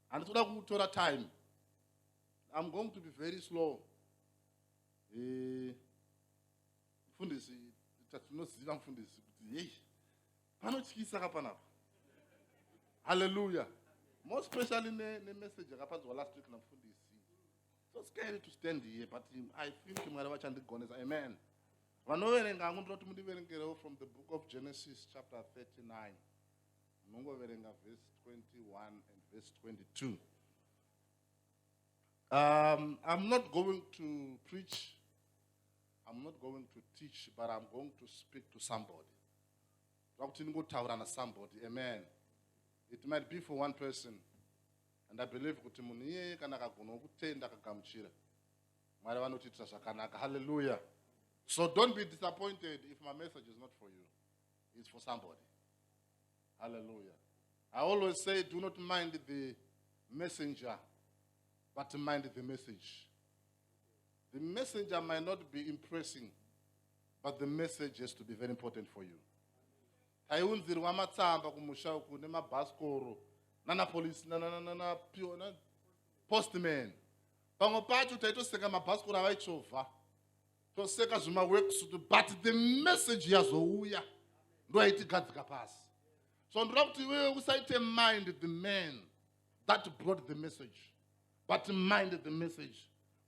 handitoda kutora time i'm going to be very slow eh, mfundisi tatinoziva mfundisi kuti hei panotyisa ka panapa halleluya more specially nemessage yakapanzwa last week namfundisi so scary to stand here but i think mwari vachandigonesa amen Vanoverenga hangu ndinoti mundiverengerewo from the book of Genesis chapter 39 munongoverenga verse 21 and verse 22. Um, I'm not going to preach, I'm not going to teach, but I'm going to speak to somebody. somebody, amen. It might be for one person. And I believe kuti munhu iyeye kana akagona kutenda akagamuchira mwari vanotiitira zvakanaka halleluya so don't be disappointed if my message is not for you it's for somebody halleluya i always say do not mind the messenger but mind the message the messenger might not be impressing but the message has to be very important for you taiunzirwa matsamba kumusha uku nemabhasikoro nanapolisi nanapiona postman pamwe pacho taitoseka mabhasikoro avaichovha toseka zvimaworksutu but the message yazouya ndo yaitigadzika pasi so ndoda kuti iwewe usaite mind the man that brought the message but mind the message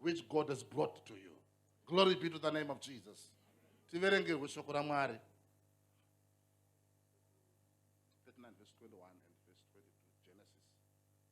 which god has brought to you glory be to the name of jesus tiverengerwe shoko ramwari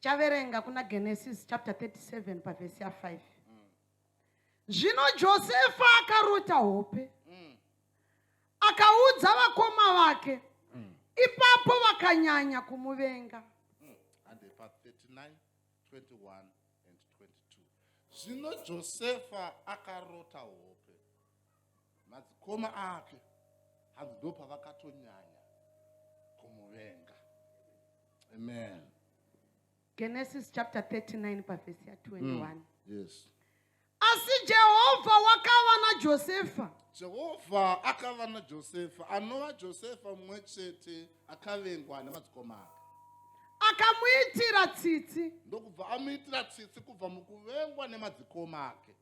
chaverenga kuna genesis chapter 37 pavhesi ya5 zvino josefa akarota hope akaudza vakoma vake ipapo vakanyanya kumuvenga zvino josefa akarota hope madzikoma ake hanzi ndopavakatonyanya kumuvenga amen genesis chapter 39 pavhesi ya21 mm, yes asi jehovha wakava najosefa jehovha akava najosefa anova josefa mumwe chete akavengwa nemadzikoma ake akamuitira tsitsi ndokubva amuitira tsitsi kubva mukuvengwa nemadzikoma ake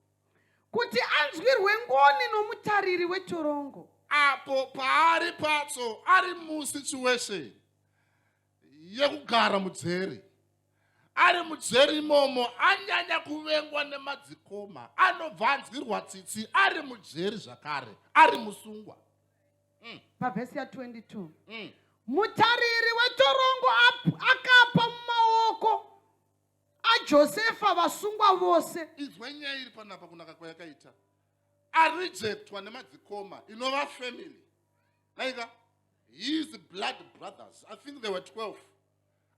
kuti anzwirwe ngoni nomutariri wetorongo apo paari patso ari musituation yekugara mudzeri ari mudzeri imomo anyanya kuvengwa nemadzikoma anobva anzwirwa tsitsi ari mudzeri zvakare ari musungwa mm. pavhesi ya22 mm. mutariri wetorongo akapa mumaoko ajosefa vasungwa vose inzwa nyaya iri panapa kunaka kwayakaita arejectwa nemadzikoma inova family naika his blood brothers i think they were 12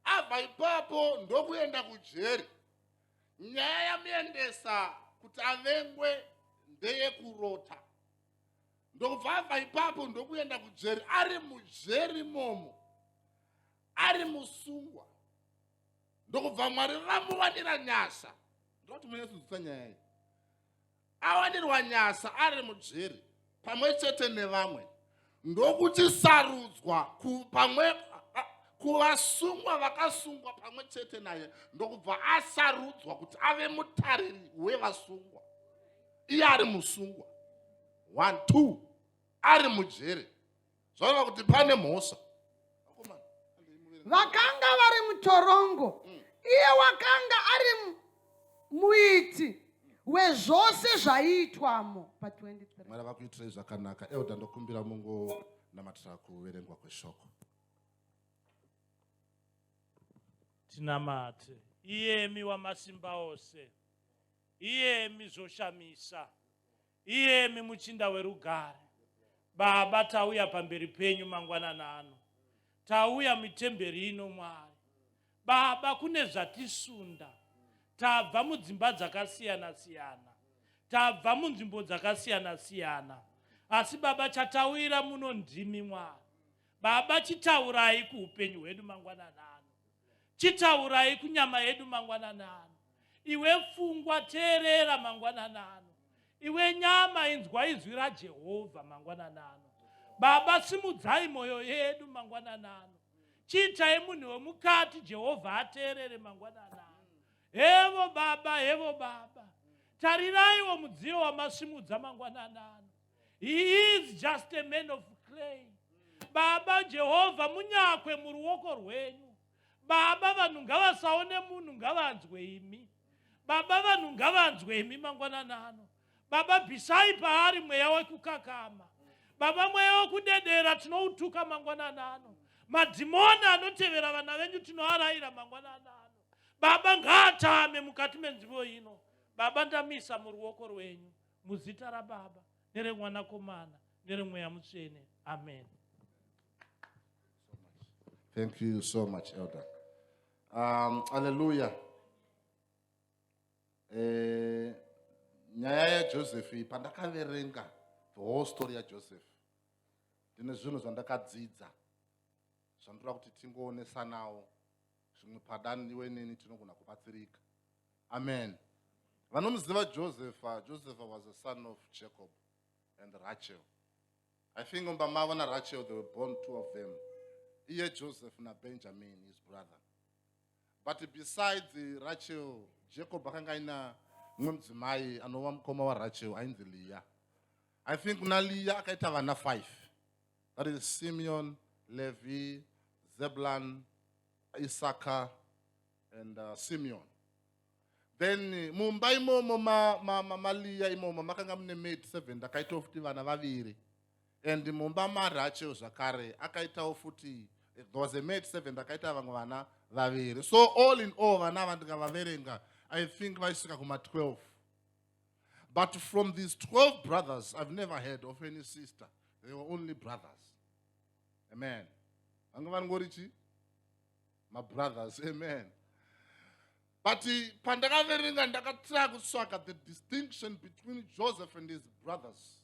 abva ipapo ndokuenda kujeri nyaya yamuendesa kuti avengwe ndeyekurota ndokubva abva ipapo ndokuenda kujeri ari mujeri momo ari musungwa ndokubva mwari vamuwanira nyasha ndoti munyatsonzwisa nyaya iyi awanirwa nyasha ari mujeri pamwe chete nevamwe ndokuti sarudzwa pamwe kuvasungwa vakasungwa pamwe chete naye ndokubva asarudzwa kuti ave mutariri wevasungwa iye ari musungwa one two ari mujeri zvaona kuti pane mhosva vakanga vari mutorongo mm. iye wakanga ari muiti wezvose zvaiitwamo pa23 vakuitirei zvakanaka euda ndokumbira mungo namatira kuverengwa kweshoko tinamate iyemi wamasimba ose iyemi zvoshamisa Iyemi muchinda werugare, Baba, tauya pamberi penyu mangwanana ano, tauya mitemberi ino, Mwari. Baba, kune zvatisunda, tabva mudzimba dzakasiyana-siyana, tabva munzvimbo dzakasiyana-siyana, asi Baba, chatauyira muno ndimi, Mwari. Baba, chitaurai kuupenyu hwedu mangwanana ano, chitaurai kunyama yedu mangwanana ano. Iwe pfungwa, teerera mangwanana ano. Iwe nyama, inzwa izwi raJehovha mangwanana ano. Baba, simudzai mwoyo yedu mangwanana ano. Chiitai munhu wemukati Jehovha ateerere mangwanana ano. Hevo Baba, hevo Baba. Tariraiwo mudziyo wamasimudza mangwanana ano. He is just a man of clay. Baba Jehovha, munyakwe muruoko rwenyu. Baba vanhu ngavasaone munhu ngavanzwe imi. Baba vanhu ngavanzwe imi mangwanana ano. Baba bhisai paari mweya wekukakama. Baba mweya wekudedera tinoutuka mangwanana ano. Madhimoni anotevera vana venyu tinoaraira mangwanana ano. Baba ngaatame mukati menzivo ino. Baba ndamisa muruoko rwenyu muzita raBaba neremwanakomana neremweya mutsvene. Amen. Thank you so much, Elder. Um, hallelujah. Eh, nyaya yaJoseph iyi pandakaverenga the whole story yaJoseph ndine zvinhu zvandakadzidza zvandoda kuti tingoonesanawo zvimwe padani iwe neni tinogona kubatsirika amen vanomuziva joseph joseph was a son of jacob and rachel I think umba mavo naRachel they were born two of them. Iye Joseph naBenjamin his brother. But besides Rachel, Jacob akanga aina mumwe mudzimai anova mukoma waRachel ainzi Leah. I think kuna Leah akaita vana five. That is Simeon, Levi, Zebulun, Issachar and uh, Simeon. then mumba imomo maliya ma, ma, ma imomo makanga mune maid seven ndakaitawo futi vana vaviri and mumba marachewo zvakare akaitawo futi eh, there was a maid seven ndakaita vamwe vana vaviri so all in all vana ava ndikavaverenga i think vaisvika kuma 12 but from these 12 brothers i've never heard of any sister they were only brothers amen vanga vari ngori chii mabrothers amen but pandakaverenga ndakatira kutsvaga the distinction between joseph and his brothers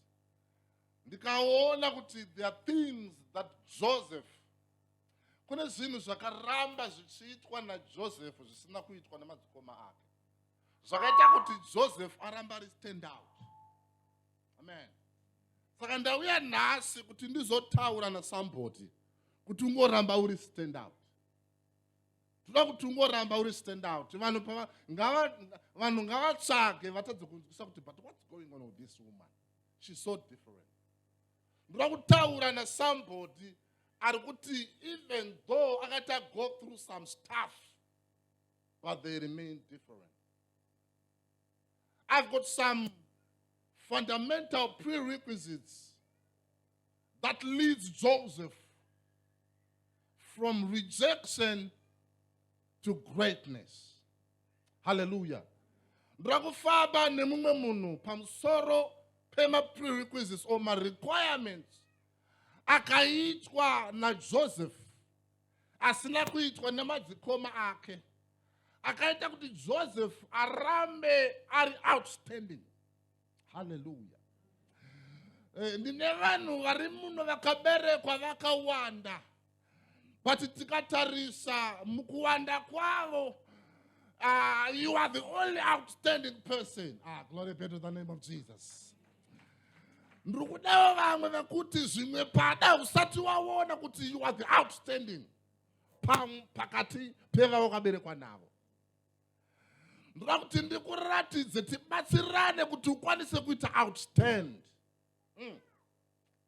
ndikaona kuti there are things that joseph kune zvinhu zvakaramba zvichiitwa najoseph zvisina kuitwa nemadzikoma ake zvakaita kuti joseph aramba ari stand out amen saka ndauya nhasi kuti ndizotaura nasamboti kuti ungoramba uri stand out toda kuti ungoramba uri stand out vanhu vanhu ngavatsvage vatadze kunzwisa kuti but what's going on with this woman she's so different ndoda kutaura nasambodi ari kuti even though akati ago through some stuff but they remain different I've got some fundamental prerequisites that leads Joseph from rejection to greatness. Hallelujah. ndoda kufamba nemumwe munhu pamusoro pemaprerequisites or marequirements akaitwa najoseph asina kuitwa nemadzikoma ake akaita kuti joseph arambe ari outstanding haleluya eh, ndine vanhu vari muno vakaberekwa vakawanda but tikatarisa mukuwanda kwavo uh, you are the only outstanding person ah, glory be to the name of jesus ndiri kudawo vamwe vekuti zvimwe pada usati waona kuti you are the outstanding pakati pevavo kaberekwa navo ndoda kuti ndikuratidze tibatsirane kuti ukwanise kuita outstand mm.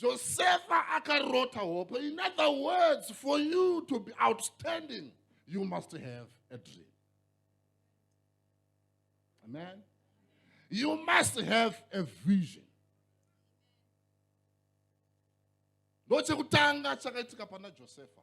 Josefa akarota hope. In other words, for you to be outstanding, you must have a dream. Amen. You must have a vision. ndochekutanga chakaitika pana josefa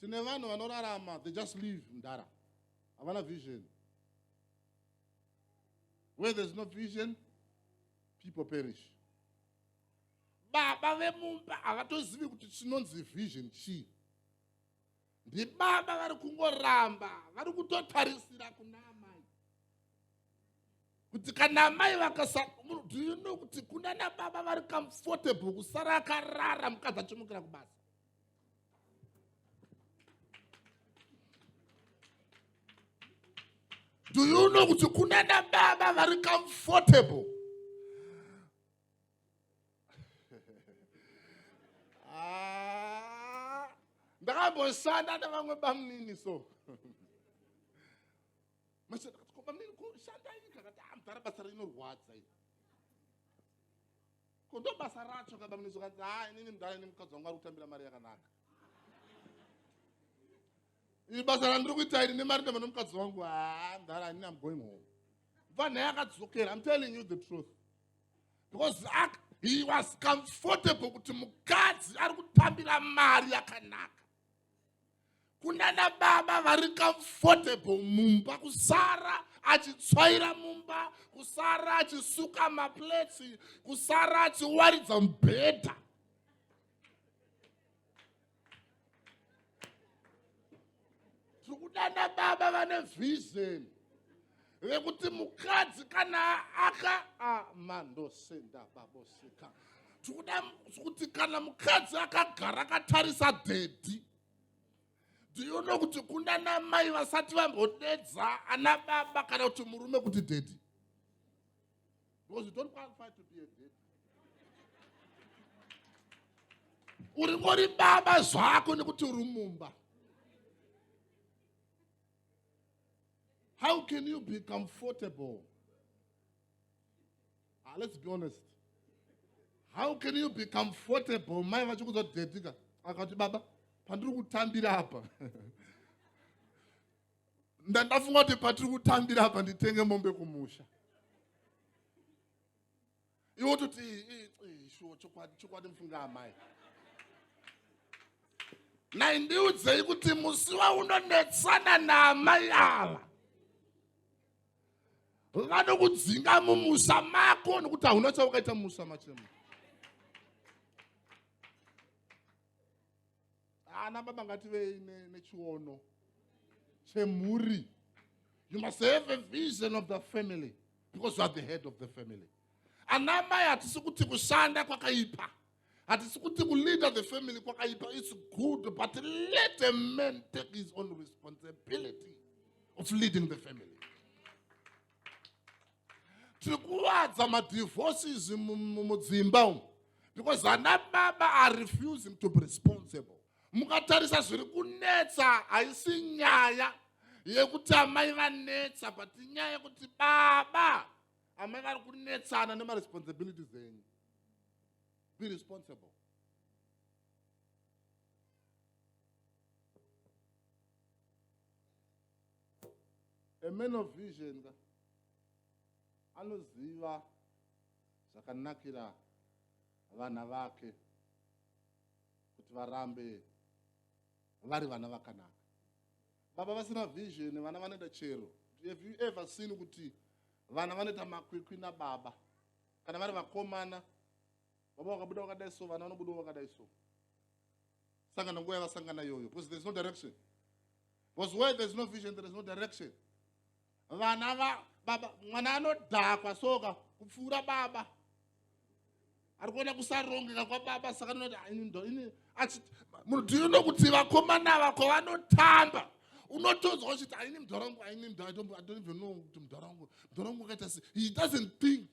tine vanhu vanorarama they just live mdara havana vision where there's no vision people perish baba vemumba havatozivi kuti chinonzi vision chii ndibaba vari kungoramba vari kutotarisira kuna amai kuti kana amai vakasadoyuno kuti kuna nababa vari comfortable kusara akarara mukadzi achimukira kubasa do you know kuti kunana baba vari comfortable ah, ndakamboshanda nevamwe bamunini so bamunini kushandaii kakati amdhara ah, basa rinorwadza iri ko ndo basa racho ka bamnisi ukanzi ha inini mudhara ini mukadzi wangu ari kutambira mari yakanaka ini basa randiri kuita iri nemari ndamana mukadzi wangu ha mudhara anini am going home bva nhai akadzokera im telling you the truth because ak he was comfortable kuti mukadzi ari kutambira mari yakanaka kunana baba vari comfortable mumba kusara achitsvaira mumba kusara achisuka maplates kusara achiwaridza mubhedha tiri kudana baba vane vision vekuti mukadzi kana aka amandosenda baboseka tikuda kuti kana mukadzi akagara akatarisa dhedhi ndiyono kuti kunda namai vasati vambodedza ana baba kana kuti murume kuti dhedhi because you don't qualify to be a dhedhi uri ngori baba zvako nekuti uri mumba How can you be comfortable? Ah, let's be honest. How can you be comfortable? Mai vachikuza kudedika. Akati baba, pandiri kutambira hapa. Ndandafunga kuti patiri kutambira hapa nditenge mombe kumusha. iwe ototi shuwa chokwadi chokwadi mufunga amai nai ndiudzei kuti musi waunonetsana naamai ava vanokudzinga mumusha mako nokuti hauna chaukaita mumusha machemo ana ah, baba ngativei nechiono chemhuri you must have a vision of the family because you are the head of the family ana mai hatisi kuti kushanda kwakaipa hatisi kuti kuleader the family kwakaipa its good but let a man take his own responsibility of leading the family tiri kuwadza madivorces mudzimba umu because ana baba are refusing to be responsible mukatarisa zviri kunetsa haisi nyaya yekuti amai vanetsa but inyaya yekuti baba amai vari kunetsana nemaresponsibilities enyu be responsible a man of vision ka anoziva zvakanakira vana vake kuti varambe vari vana vakanaka baba vasina vision vana vanoita chero have you ever seen kuti vana vanoita makwikwi nababa kana vari vakomana baba vakabuda vakadai so vana vanobudawo vakadai so saka nanguva yavasangana iyoyo because there's no direction because where there's no vision there's no direction vana va baba mwana anodhakwa soka kupfuura baba ari kuona kusarongeka kwababa saka noti munhu tinoda kuti vakomana ava kwavanotamba unotonzwa uchiti aini mudhara wangu aini mudhara i don't even know kuti mudhara wangu mudhara wangu akaita se he doesn't think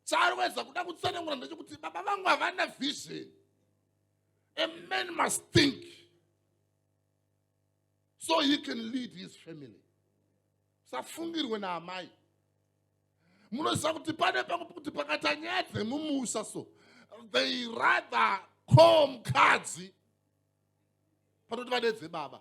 chaari waiza kuda kutsanangura ndechekuti baba vangu havana vision a man must think so he can lead his family safungirwe naamai munoziva kuti pane pangu kuti pakaita nyaya dzemumusha so they rather call mukadzi panoti vadedze baba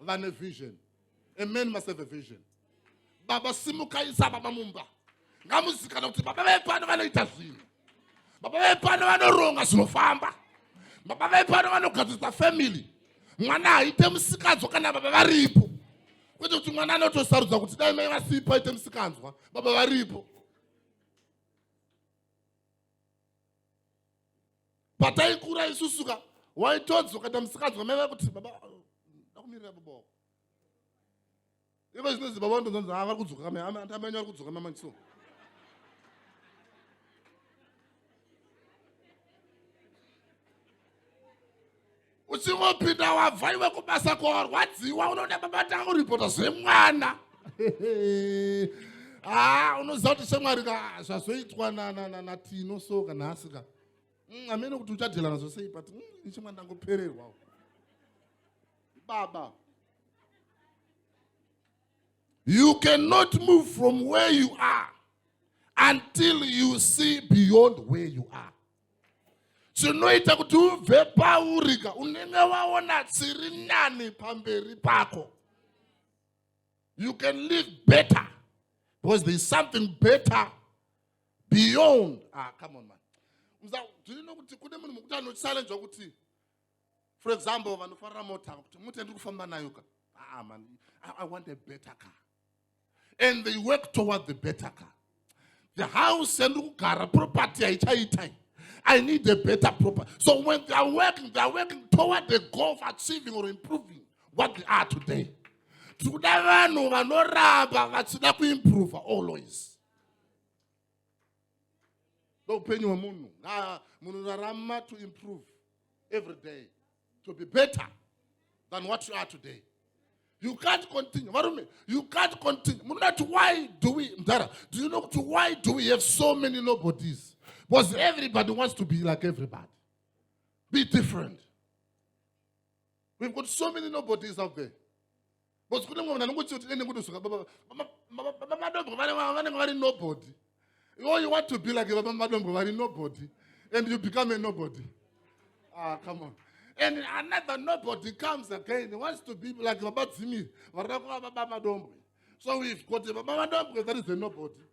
vane vision a man must have a vision baba simukaisa baba mumba ngamuzikana kuti baba vepano vanoita zvinhu baba vepano vanoronga zvinofamba baba vepano vanogadzirisa family mwana haite musikanzwa kana baba varipo kwete kuti mwana anotosarudza kuti dai mai vasipo aite musikanzwa baba varipo pataikura isusuka waitodzwa ukaita musikadzi wamai vai kuti baba ndakumirira baba wako ivo zvinonzi baba ndonzonzi ha ah, vari kudzoka kamai antamai vari kudzoka mamai so uchingopinda wabva iwe kubasa kwawarwadziwa unoda babata kuripota zvemwana haa ah, unoziva kuti shamwari ka zvazoitwa natino so ka nhasi ka mm, amene kuti uchadyelana zvosei but mm, ichimwa ndangopererwa baba you cannot move from where you are until you see beyond where you are zvinoita kuti ubve paurika unenge waona dziri nani pamberi pako you can live better because there is something better beyond ah come on man ndiri nokuti kune munhu mukuti anochallenjwa kuti for example vanofarira mota kuti mota ndiri kufamba nayo ka ah man I, i want a better car and they work toward the better car the house yandiri kugara property haichaitai i need a better property so when they are working they are working toward the goal of achieving or improving what they are today tiri kuda vanhu vanoramba vachida kuimprova always ndoupenyu hwemunhu munhu rarama to improve every day to be better than what you are today you can't continue varume you can't continue munoda kuti why do we mdara do you know kuti why do we have so many nobodies because everybody wants to be like everybody be different we've got so many nobodies out there bcause kune mwe vanhu anongochio tine nengotosuka bamadombwe vanenge vari nobody oh, you want to be like vamamadombwe vari nobody and you become a nobody ah, come on and another nobody comes again he wants to be like vabadzimiri varida kuva vabamadombwe so we've got vabamadombwe that is a nobody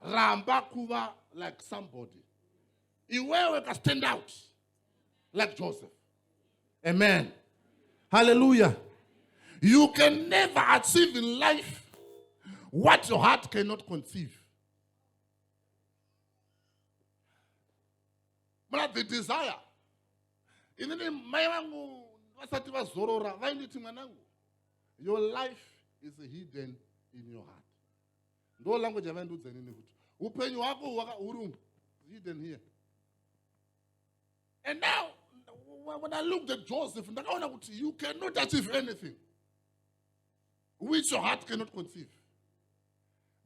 ramba kuva like somebody iwewe ka stand out like joseph amen hallelujah you can never achieve in life what your heart cannot conceive muna the desire inini mai vangu vasati vazorora vainditi mwanangu your life is hidden in your heart ndo language yavaindiudza inini kuti upenyu hwako huri hidden here and now when i looked at joseph ndakaona kuti you cannot achieve anything which your heart cannot conceive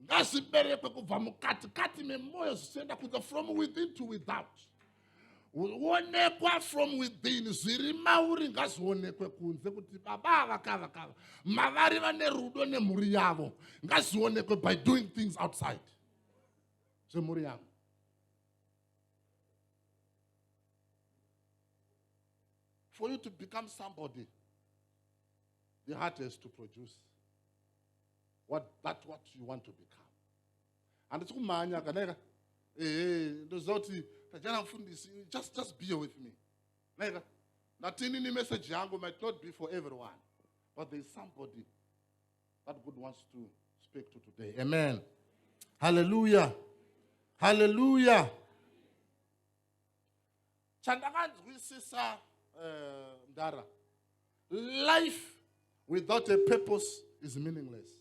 ngazviberekwe kubva mukatikati memwoyo zvichienda kunze from within to without onekwa from within zviri mauri ngazvionekwe kunze kuti baba ava kava kava mavari vane rudo nemhuri yavo ngazvionekwe by doing things outside zvemhuri yavo for you to become somebody the heart has to produce what, that what you want to become handisi kumhanya ka naika ehe ndoziva kuti tajana mfundisi just, just be with me naika ndatini ni message yangu might not be for everyone but there is somebody that god wants to speak to today amen halleluya halleluya chandakanzwisisa eh, mdara uh, life without a purpose is meaningless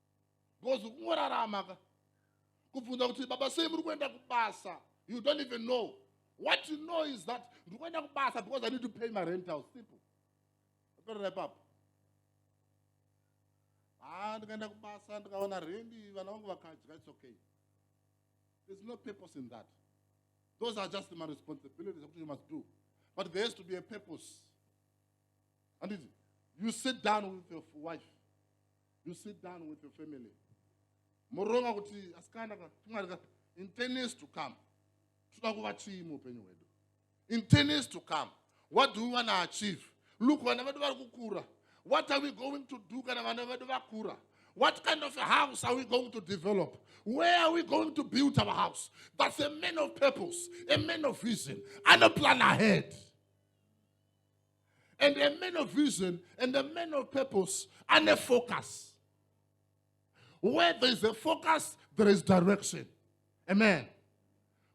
because kungorarama ka kubvunza kuti baba sei muri kuenda kubasa you don't even know what you know is that ndiri kuenda kubasa because i need to pay my rent house simple aperera ipapo haa ah, ndikaenda kubasa ndikaona rendi vana vangu vakadya its okay there's no purpose in that those are just my responsibilities akuti you must do but there has to be a purpose handiti you sit down with your wife you sit down with your family moronga kuti asikana ka tumwari ka in ten years to come toda kuva chii muupenyu hwedu in ten years to come what do we wanna achieve look vana vedu vari kukura what are we going to do kana vana vedu vakura What kind of a house are we going to develop? Where are we going to build our house? That's a man of purpose, a man of vision, and a plan ahead. and a man of vision and a man of purpose and a focus. Where there is a focus, there is direction. Amen.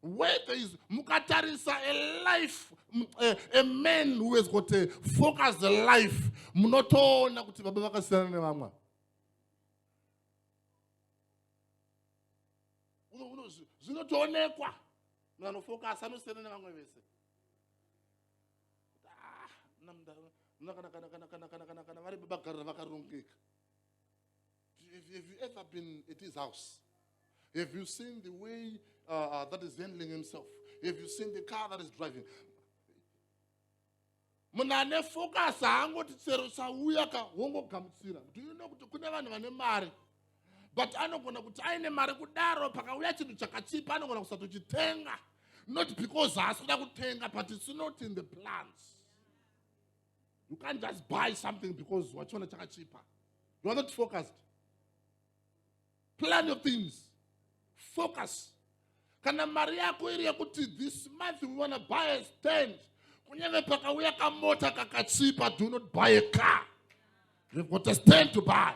Where there is mukatarisa a life a, a man who has got a focused life munotoona kuti baba vakasiyana nevamwe zvinotoonekwa munhu anofokasa anosiyana nevamwe vese kana vari babagarira vakarongeka have you ever been at his house have you seen the way uh, uh, that is handling himself have you seen the car that is driving munhu ane focus haangoti chero chauya ka wongogamuchira do you know kuti kune vanhu vane mari but anogona kuti aine mari kudaro pakauya chinhu chakachipa anogona kusatochitenga not because haasi kuda kutenga but its not in the plans you can't just buy something because wachiona chakachipa you are not focused plan your things focus kana mari yako iri yekuti this month we wanna buy a stand kunyeve pakauya kamota kakachipa do not buy a car you've got a stand to buy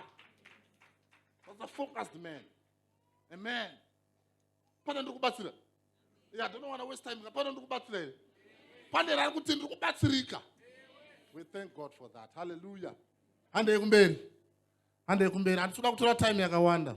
that's a focused man amen pana ndiri kubatsira yeah, don't wanna waste time pana ndiri kubatsira here pane rari kuti ndiri kubatsirika we thank god for that hallelujah handei kumberi handei kumberi handisi kuda kutora time yakawanda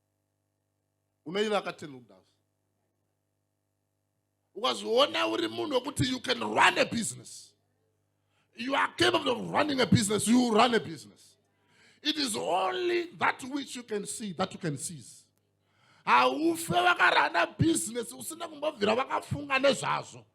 unoiva akatenda kudhasi ukazoona uri munhu wekuti you can run a business you are capable of running a business you run a business it is only that which you can see that you can seize haufe vakarana business usina kumbobvira vakafunga nezvazvo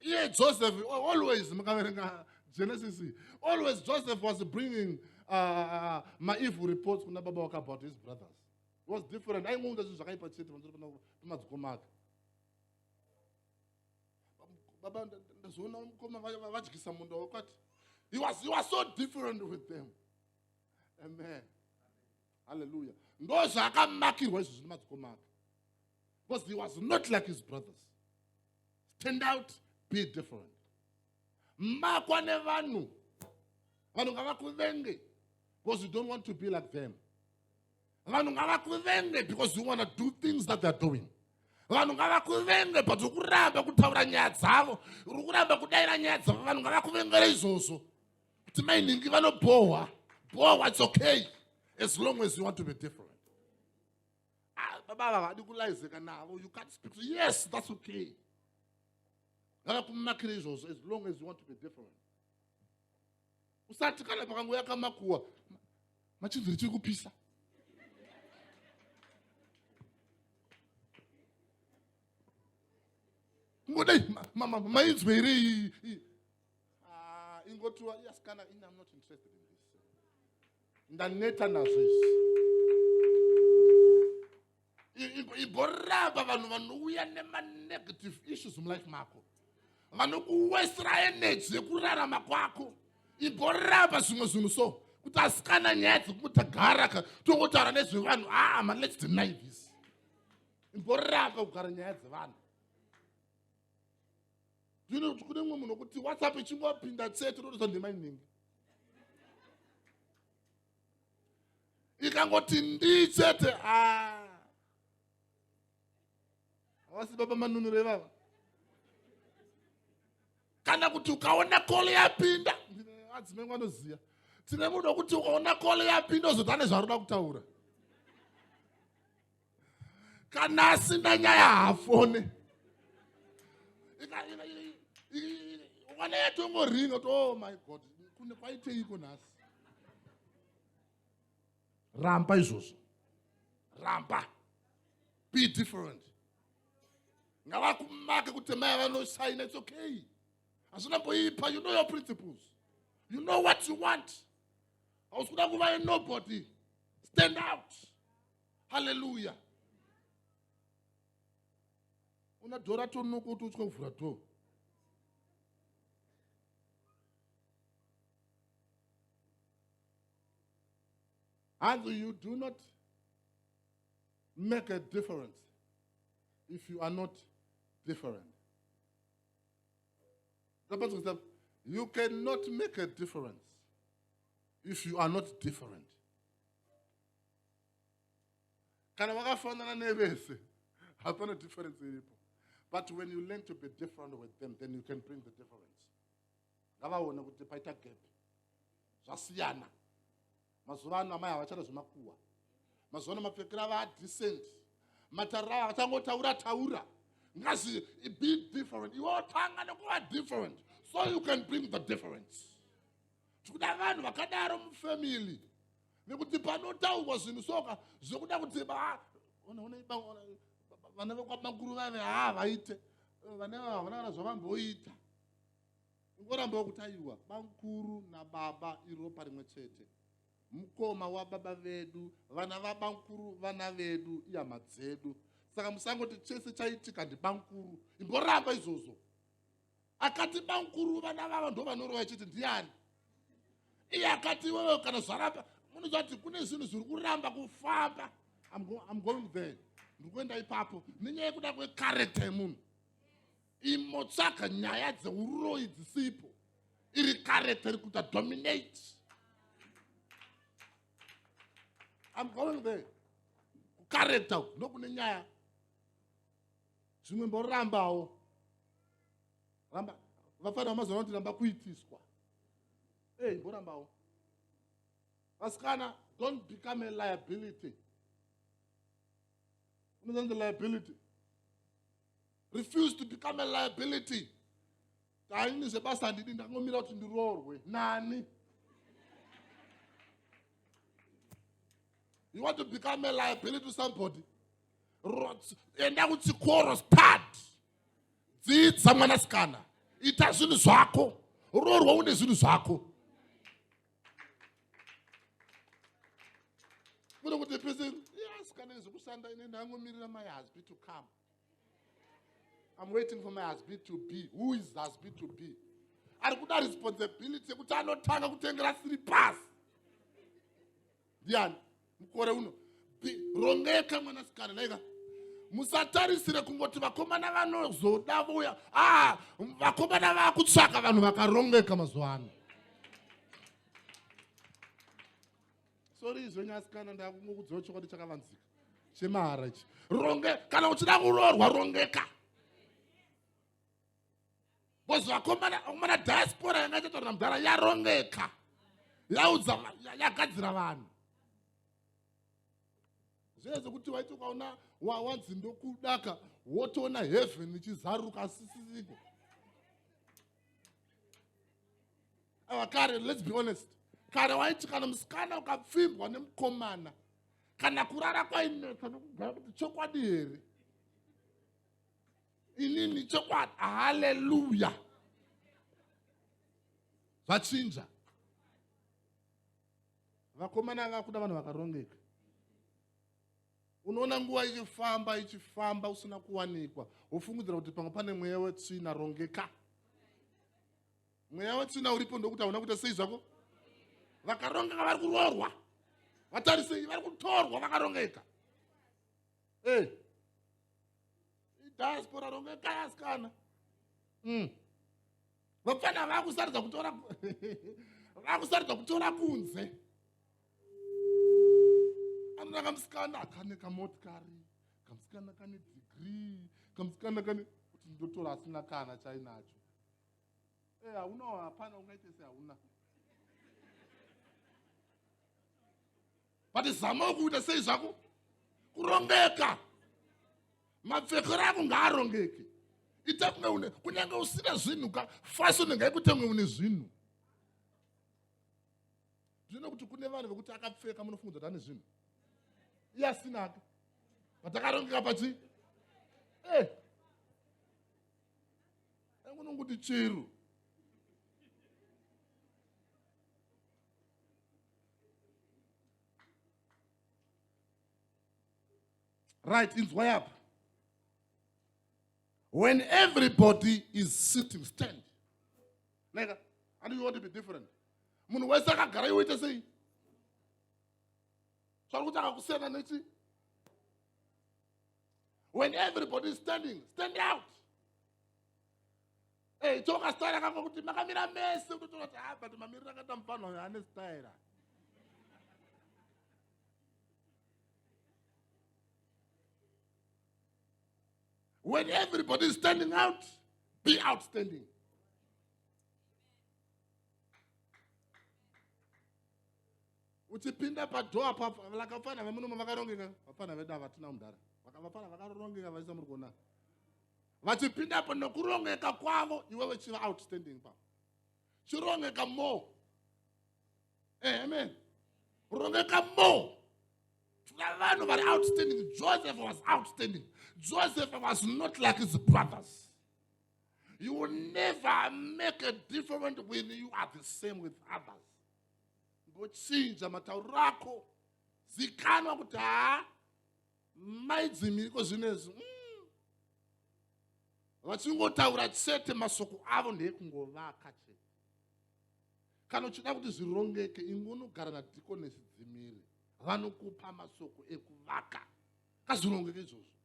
iye joseph always mukaverenga genesis always joseph was bringing uh, uh, maevil reports kuna baba wake about his brothers It was different aingounda zvinhu zvakaipa chete panzoro pemadzikoma ake baba ndazoona mukoma vadyisa munda wakwati he was, he was so different with them amen halleluya ndo zvaakamakirwa izvo zvine madzikoma ake because he was not like his brothers stand out be different makwa nevanhu vanhu ngavakuvenge because you don't want to be like them vanhu ngavakuvenge because you want to do things that they're doing vanhu ngavakuvenge but uri kuramba kutaura nyaya dzavo uri kuramba kudaira nyaya dzavo vanhu ngavakuvengere izvozvo kuti mainhingi vanobhohwa bhohwa it's okay as long as you want to be different Ah, baba ava havadi kulaizeka navo you can't speak to yes that's okay ngavakumakira izvozvo as long as you want to be different usati kana pakango yakamakuwa machinziri chiri kupisa ngodai mainzwe here iyi ah, ingotiwa yes kana ini am not interested in ndaneta nazvo izvi igoramba vanhu vanouya nemanegative issues mulife mako vanokuwestra energy yekurarama kwako igoramba zvimwe zvinhu so kuti asikana nyaya dzekutagara ka tongotaura nezvevanhu aa ah, ma lets deny this igoramba kugara nyaya dzevanhu ndinoona kuti kune mumwe munhu wokuti whatsapp ichingopinda tsete unotoza ndima inenge ikangoti ndii chete havasi ah. baba manunure vava kana kuti ukaona kole yapinda adzimai vanoziva tine munhu wokuti ukaona kole yapinda ozotane zvaroda kutaura kana asina nyaya haafone wana yatongoringa to oh my god kune kwaiteiko nhasi ramba izvozvo ramba be different ngavakumake kuti mai vanosaina its okay hazvina mboipa you know your principles you know what you want hausi kuda kuva nobody stand out haleluya una dhora tonoko kuti utya kuvhura dhoo And you do not make a difference if you are not different. The person said, You cannot make a difference if you are not different. kana wakafanana nevese hapana difference iripo but when you learn to be different with them then you can bring the difference ngavaone kuti paita gap zvasiyana mazuva ano amai havachada zvemakuwa mazuva ano mapfekera ava adecent matariro avo achangotaura taura ngazi be different iwe otanga nekuva different so you can bring the difference tikuda vanhu vakadaro mufamily nekuti panotaurwa zvinhu soka zvekuda kuti vana vekwamakuru vave haa vaite vana vava havana kana zvavamboita ingorambawo kuti aiwa bamkuru nababa iropa rimwe chete mukoma wababa vedu vana vabamkuru vana vedu ihama dzedu saka musangoti chese chaitika ndibamkuru imboramba izvozvo akati bamkuru vana vava ndo vanorova chete ndiani iye akati iwewe kana zvaramba munoziva kuti kune zvinhu zviri kuramba kufamba im going there ndiri kuenda ipapo nenyaya yekuda kwekarekta yemunhu imotsvaga nyaya dzeuroyi dzisipo iri karekta iri kuita dominate im going there kukarekta nokune nyaya zvimwe mborambawo ramba vafanira vamazoona kuti ramba kuitiswa ey mborambawo vasikana don't become a liability unozanzi liability refuse to become a liability taini zvebasa handidi ndangomira kuti ndiroorwe nani you want to become a liability to somebody enda kuchikoro stad dzidza mwanasikana ita zvinhu zvako roorwa une zvinhu zvako mune kuti pese asikana izvekushanda ine ndangomirira my husband to come i'm waiting for my husband to be who is husband to be ari kuda responsibility yekuti anotanga kutengera siri pasi ndiani mukore uno rongeka mwanasikana naika musatarisire kungoti vakomana vanozoda vouya ah, vakomana vakutsvaka vanhu vakarongeka mazuva ano sori izvo nyasikana ndakungokudziwa chokwadi chakavanzika chemahara ichi ronge kana uchida kuroorwa rongeka bcause vakomana diaspora yanga ichataurira mudhara yarongeka yaudza yagadzira vanhu zviye zvekuti waiti ukaona wawanzi ndokudaka wotoona heaven ichizaruka asisiziko ava kare let's be honest kare waiti kana musikana ukapfimbwa nemukomana kana kurara kwainetsa nokugara kuti chokwadi here inini chokwadi haleluya zvachinja vakomana anga kuda vanhu vakarongeka unoona nguva ichifamba ichifamba usina kuwanikwa wofungidzira kuti pamwe pane mweya wetsvina rongeka mweya wetsvina uripo ndokuti hauna kuita sei zvako vakarongeka vari kuroorwa vatarisei vari kutorwa vakarongeka e eh. hey. diaspora ronge kaya sikana mm. vapfana vakusarudza kutora vakusarudza kutora kunze anoda kamusikana kane kamotikari kamusikana kane degree kamusikana kane kuti ndotora asina kana chainacho e hauna hapana ungaite se hauna but zamawo kuita sei zvako kurongeka mapfekero ako ngaarongeke ita kunge une kunyange usina zvinhu ka fasoni ngaikutange une zvinhu zvino kuti kune vanhu vekuti akapfeka munofunga kuti ane zvinhu iye asinake vatakarongeka pachi eh. angunonguti chero right inzwai apa when everybody is sitting stand neka i don't want to be different munhu wese akagara iwe ite sei svari kuti akakusiyana nechi when everybody is standing stand out Hey, toka style kako kuti makamira mese utotora kuti ah but mamirira akaita mufana uyo ane style. When everybody is standing out, be outstanding. uchipinda padhoa lakafana vemunomo vakarongeka vafana vedu havatina mudhara vakavafana vakarongeka vaisa muri kuona vachipindapo nokurongeka kwavo iwewe chiva outstanding pavo chirongeka more eh, amen rongeka more tuna vanhu vari outstanding joseph was outstanding joseph was not like his brothers you will never make a different when you are the same with others ngochinja matauro ako zikanwa kuti haa mai dzimiriko zvinezvi mm. vachingotaura chete masoko avo ndeekungovaka chete kana uchida kuti zvirongeke inge unogara nadikonesi dzimiri vanokupa masoko ekuvaka kazvirongeke izvozvo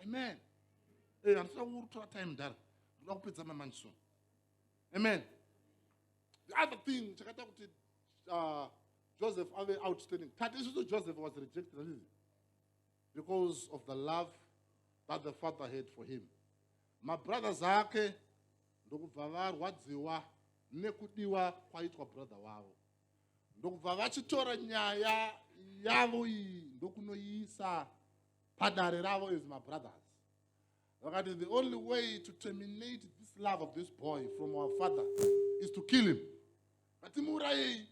amen eh, handisina kutora time dara ndoda kupedza mamanjisoni amen the other thing chakaita kuti uh, joseph ave outstanding tati isusu joseph was rejected handizi because of the love that the father had for him mabrothers ake ndokubva varwadziwa nekudiwa kwaitwa brother wavo ndokubva vachitora nyaya yavo iyi ndokunoiisa padare ravo as mabrothers vakati the only way to terminate this love of this boy from our father is to kill him ngatimuurayei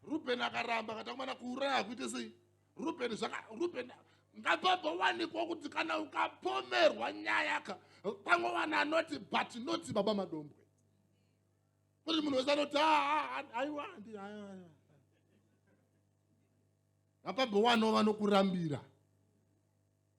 ruben akaramba kati akumana kuuraya hakuite sei ruben ruben ngapabowanikwa kuti kana ukapomerwa nyaya ka pamwe vanhu anoti but noti baba madombwe kuti munhu wese anoti aiwa ngapabowano vanokurambira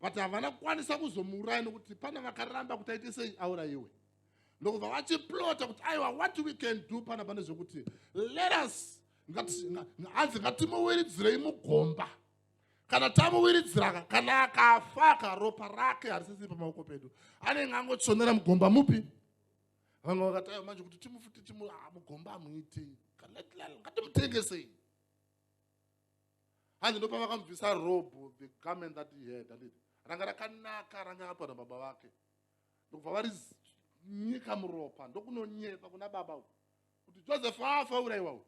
but havana kukwanisa kuzomuuraya nokuti pana vakaramba kuti aite sei aurayiwe ndokubva vachiplota kuti aiwa what we can do pana pane zvekuti let us hanzi ngatimuwiridzirei mugomba kana tamuwiridzira kana akafa karopa rake harisisiri pamaoko pedu anenge angotsvonera mugomba mupi vamwe vakati aiwa manje kuti timufute timugomba amuitei ngatimutengesei hanzi ndopamakambvisa robo the garment that he had anditi ranga rakanaka ranga apa na baba vake ndokubva vari nyika muropa ndokunonyepa kuna baba u kuti joseph afa uraiwa u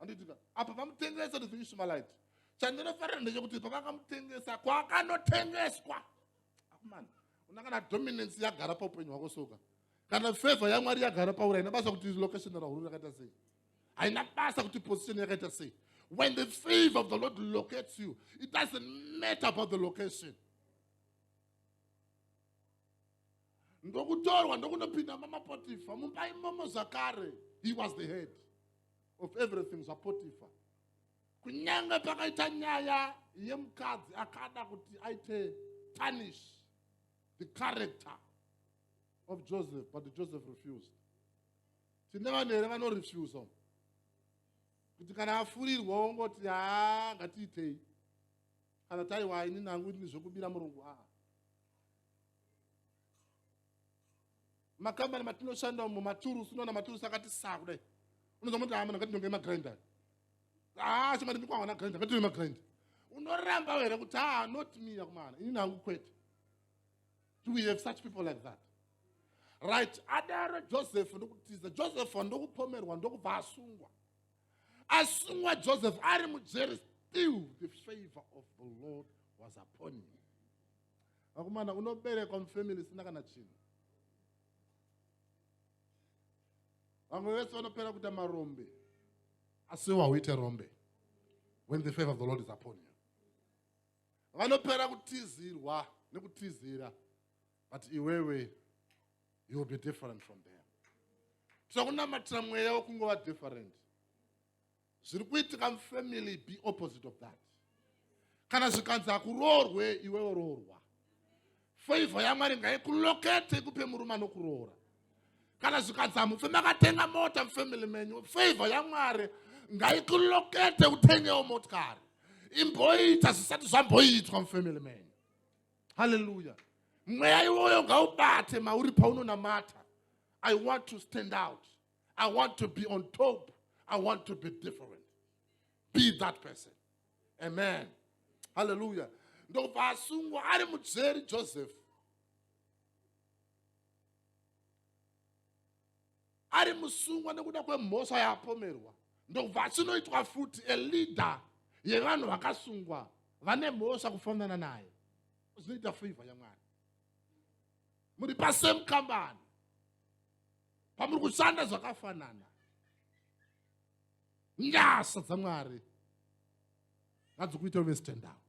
anditika apa pamutengesa to the ishumalite chandinofarira ndechekuti pavakamutengesa kwakanotengeswa akumana una kana dominance yagara paupenyu hwako soka kana favor yamwari yagara paura ina basa kuti location rahuru rakaita sei haina basa kuti position yakaita sei when the favor of the lord locates you it doesn't matter about the location ndokutorwa ndokunopinda mamapotifa mumba imomo zvakare he was the head of everything zvapotifa kunyange pakaita nyaya yemukadzi akada kuti aite tarnish the character of joseph but joseph refused tine vanhu here vanorefusa kuti kana afurirwa ongoti haa ngatiitei kana taiwa ini nangu ini zvekubira murungu aa makambani matinoshanda umo maturusi unoona maturusi akati saa kudai unoza moti amana ngatinonge magrinda haa chimani mikwawana grinda ngatine magrinda unoramba here kuti haa not me yakumana ini nangu kwete do we have such people like that right adaro joseph ndokutiza joseph ndokupomerwa ndokubva asungwa asungwa joseph ari mujeri still the favor of the lord was upon him vakomana unoberekwa mufamily isina kana chinhu vamwe vese vanopera kuita marombe asi wauite rombe when the favor of the lord is upon you vanopera kutizirwa nekutizira but iwewe you will be different from them tinokunamatira mweya wekungova different zviri kuitika mufamily be opposite of that kana zvikanzi hakuroorwe iwewe roorwa favor yamwari ngaikulokete ikupe murume anokuroora kana zvikadza mufe makatenga mota mufamily menyu favor yamwari ngaikulokete utengewo motikari imboita zvisati zvamboitwa mufamily menyu halleluya mweya iwoyo ngaubate mauri paunonamata i want to stand out i want to be on top i want to be different be that person amen haleluya ndokubva asungwa ari mujeri joseph ari musungwa nekuda kwemhosva yaapomerwa ndokubva achinoitwa futi eleader yevanhu vakasungwa vane mhosva kufanana naye zvinoita favor yamwari muri pasame kambani pamuri kushanda zvakafanana nyasha dzamwari ngadzikuita uve stand out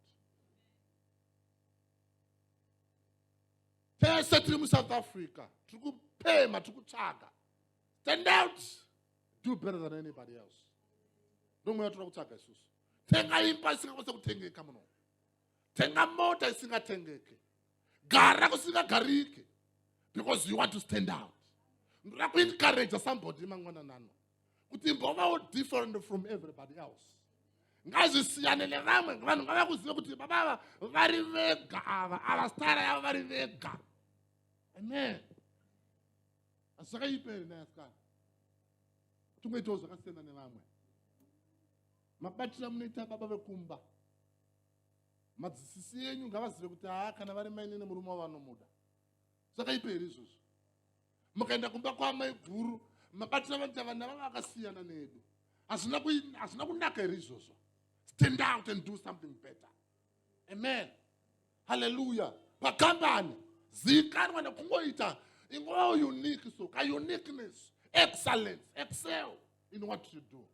tese tiri musouth africa tiri kupema tiri kutsvaga stand out do better than anybody else ndomwe yatoda kutsvaga isusu tenga imba isingakwanisa kutengeka muno tenga mota isingatengeke gara kusingagarike because you want to stand out ndoda kuencourage somebody mangwananano kuti mbovawo different from everybody else ngazvisiyane nevamwe vanhu ngavakuzive kuti baba ava vari vega ava ava stara yavo vari vega amen asi zvakaipa here nayasikana tingoitawo zvakasiyana nevamwe mabatira munoita baba vekumba madzisisi enyu ngavazive kuti haa kana vari mainini murume wavanomuda zvakaipa here izvozvo mukaenda kumba kwaamai guru mabatira vanhu chavana vava vakasiyana nedu hazvina kunaka here izvozvo stand out and do something better amen halleluya pakambani zikanwa nekungoita ingova unique so ka uniqueness excellence excel in what you do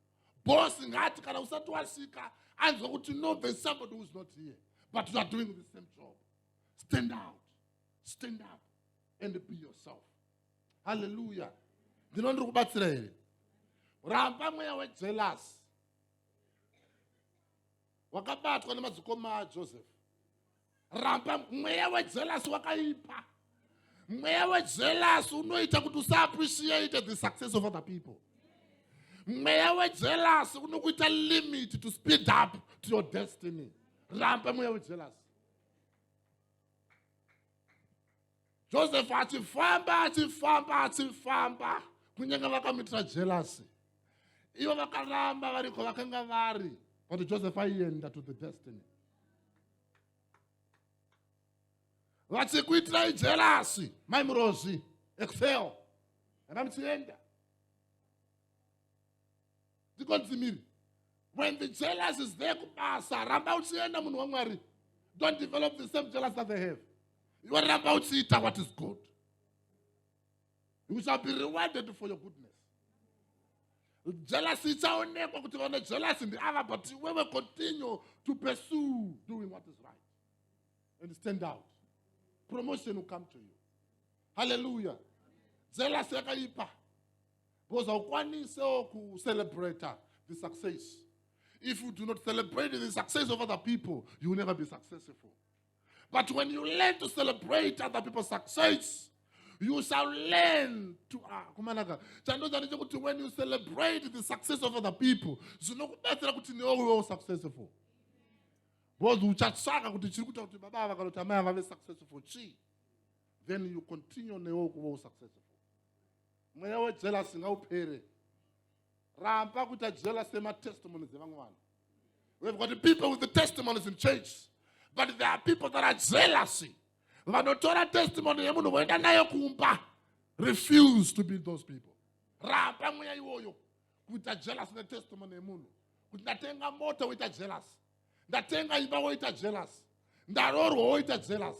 boss ngati kana usati wasvika anzwa kuti no there is somebody who is not here but you are doing the same job stand out stand up and be yourself haleluya ndino ndiri kubatsira here ramba mweya wejelasi wakabatwa nemadzikoma ajoseph ramba mweya wejelasi wakaipa mweya wejelasi unoita kuti usaappreciate the success of other people mweya wejelasi unokuita limit to speed up to your destiny ramba mweya wejelasi josefu achifamba achifamba achifamba kunyange vakamuitira jelasi ivo vakaramba variko vakanga vari but joseph aienda to the destiny vachikuitirai jelasi mai murozi excel enda muchienda dzikonzimiri when the jealous is there kubasa ramba uchienda munhu wamwari don't develop the same jealous that they have iwe ramba uchiita what is good you shall be rewarded for your goodness jealousy ichaonekwa kuti vane jealousy ndiava but iwewe continue to pursue doing what is right and stand out promotion will come to you hallelujah jealousy yakaipa because haukwanisewo kucelebrata the success if you do not celebrate the success of other people you will never be successful but when you learn to celebrate other people's success you shall learn to ah, kumanaka chandoza ndechekuti when you celebrate the success of other people zvinokubatsira kuti newe uvewo successful because uchatsvaka kuti chiri kuita kuti baba ava kana kuti amai ava vave successful chii then you continue newe ukuvewo successful mweya wejelasi ngaupere ramba kuita jealous yematestimonies evamwe vanhu we've got people with the testimonies in church but there are people that are jealousy vanotora testimony yemunhu voenda nayo kumba refuse to be those people ramba mweya iwoyo kuita jealous netestimony yemunhu kuti ndatenga mota woita jealous ndatenga imba woita jealous ndarorwa woita jealous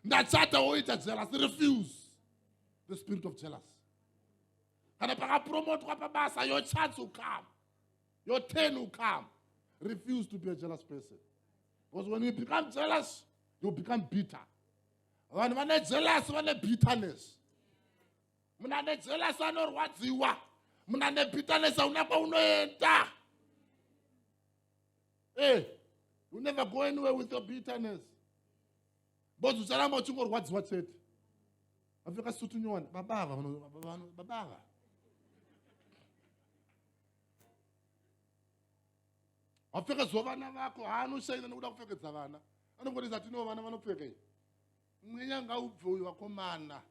ndachata woita jealous refuse the spirit of jealous kana pakapromotwa pabasa your chance will come your turn will come refuse to be a jealous person because when you become jealous you become bitter vanhu vane jealous vane bitterness munhu ane jealous anorwadziwa munhu ane bitterness hauna kwaunoenda Eh, you never go anywhere with your bitterness. Bozi ucharamba uchingorwadziwa chete. Vapfeka sutu nyowani, baba ava, baba ava. Vapfeka zuva vana vako, haanoshaina nekuda kupfekedza vana. Anongoti zati no vana vanopfeka iyi. Mweya ngaubve uyu vakomana.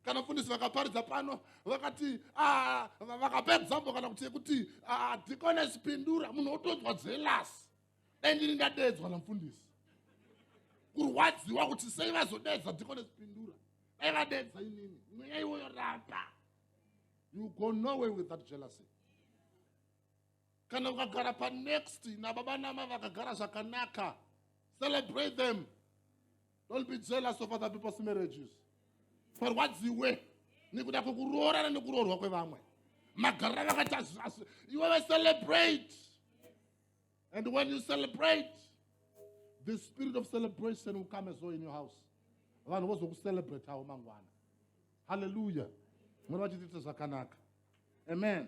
Kana mfundisi vakaparidza pano vakati ah, vakapa example kana kuti yekuti ah, deaconess pindura munhu otonzwa jealous. Dai ndiri ndadeedzwa namfundisi. Kurwadziwa kuti sei vazodeedza deaconess pindura. Dai vadeedza inini. Mweya iwoyo ramba. You go nowhere with that jealousy. kana ukagara panext nababa nama vakagara zvakanaka celebrate them don't be jealous of other people's marriages farwadziwe nekuda kwekuroorana nekuroorwa kwevamwe magarira vakaita iwewe celebrate and when you celebrate the spirit of celebration will come as well in your house vanhu vozokucelebrate avo mangwana halleluya mwari vachitiita zvakanaka amen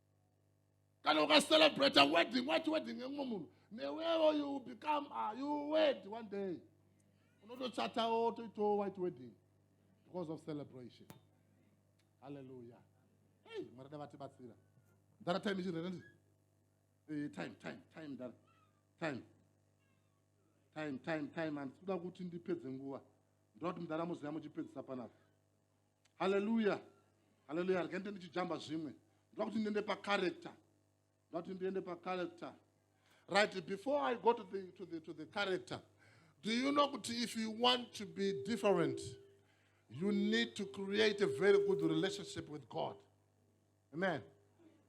kana ukacelebrate wedding wachi wedding yemumwe munhu newewo you become uh, you wed one day unotochatawo toitawo white wedding because of celebration halleluya hey mwari da vatibatsira ndara time ichirere ndi hey, eh, time time time ndara time time time time handisikuda kuti ndipedze nguva ndoda kuti mudara muziva muchipedzisa panapa haleluya haleluya rega ndite ndichijamba zvimwe ndoda kuti ndiende pacharacter ndoda kuti ndiende pacharacter right before i go to the, to the, to the character do you know kuti if you want to be different you need to create a very good relationship with god amen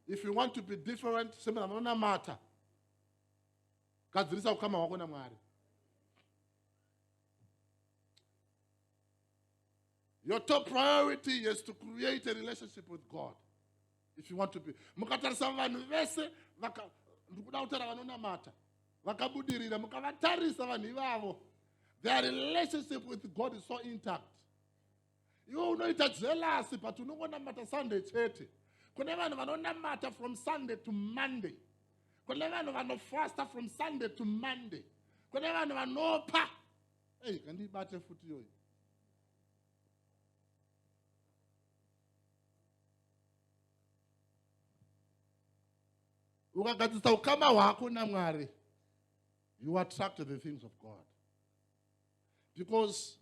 if you want to be different semena vanonamata gadzirisa ukama hwako namwari Your top priority is to create a relationship with God. If you want to be. Mukatarisa vanhu vese ndikuda kutaura vanonamata vakabudirira mukavatarisa vanhu ivavo their relationship with God is so intact. Iwe unoita jealousy but unongonamata Sunday chete. Kune vanhu vanonamata from Sunday to Monday. Kune vanhu vanofasta from Sunday to Monday. Kune vanhu vanopa Hey, kandibate futi yoyi. ukagadzisa ukama hwako namwari you attract the things of god because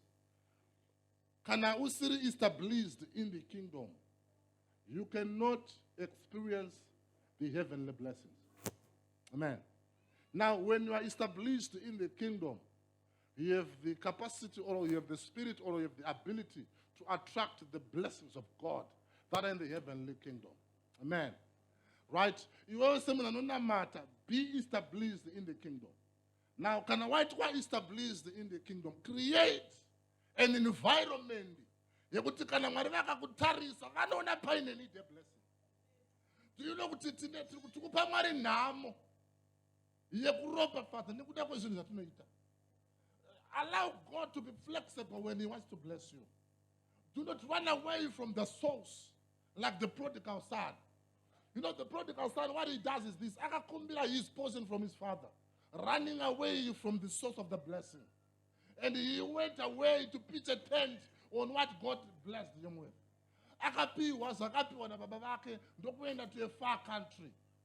kana usiri established in the kingdom you cannot experience the heavenly blessings amen now when you are established in the kingdom You have the capacity or you have the spirit or you have the ability to attract the blessings of God that are in the heavenly kingdom. Amen. Right? You always say, matter. be established in the kingdom. Now, can I write why established in the kingdom? Create an environment yekuti kana mwari vakakutarisa vanoona paine need blessing tinoda kuti tine tiri kupa mwari nhamo yekuropafadza nekuda kwezvinhu zvatinoita allow god to be flexible when he wants to bless you do not run away from the source like the prodigal son you know the prodigal son what he does is this akakumbira his portion from his father running away from the source of the blessing and he went away to pitch a tent on what god blessed him with akapiwa zvakapiwa nababa vake ndokuenda to a far country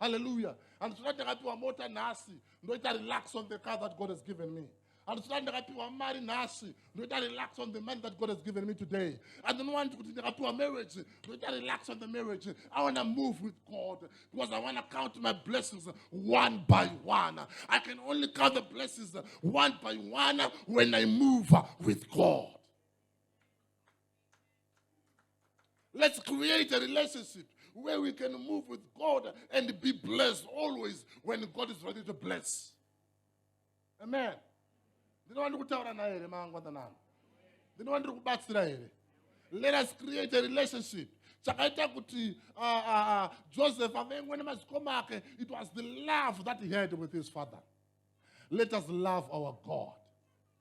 haleluya handisi kuti ndakapiwa mota nhasi ndoita relax on the car that god has given me handisi kuti ndakapiwa mari nhasi ndoita relax on the money that god has given me today i don't want kuti ndakapiwa marriage ndoita relax on the marriage i want to move with god because i want to count my blessings one by one i can only count the blessings one by one when i move with god Let's create a relationship where we can move with God and be blessed always when God is ready to bless. Amen. ndinova ndiri kutaura naye here mangwandanangu ndinova ndiri kubatsira here let us create a relationship chakaita kuti uh, uh, uh, joseph avengwe nemazikoma ake it was the love that he had with his father let us love our god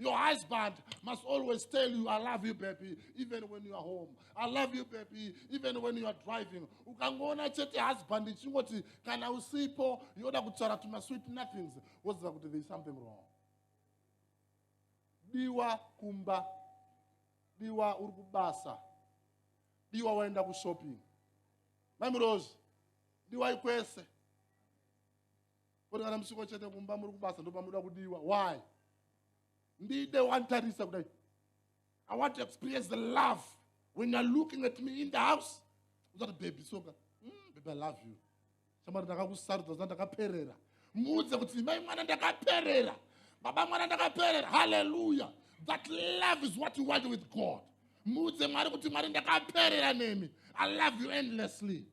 Your husband must always tell you, I love you, baby, even when you are home. I love you, baby, even when you are driving. Ukangoona chete husband ichingoti kana usipo yoda kutaura tuma sweet nothings woziva kuti there is something wrong. Diwa kumba, diwa uri kubasa, diwa waenda kushopping. Mami Rose, diwa ikwese. Koti kana musiko chete kumba muri kubasa ndopamunoda kudiwa. Why? Ndide wantarisa kudai. I want to experience the love when you're looking at me in the house. Uzati baby soka. Mm, baby I love you. Shamari ndakakusarudza zva ndakaperera. Muudze kuti mai mwana ndakaperera. Baba mwana ndakaperera. Hallelujah. That love is what you want with God. Muudze Mwari kuti Mwari ndakaperera nemi. I love you endlessly.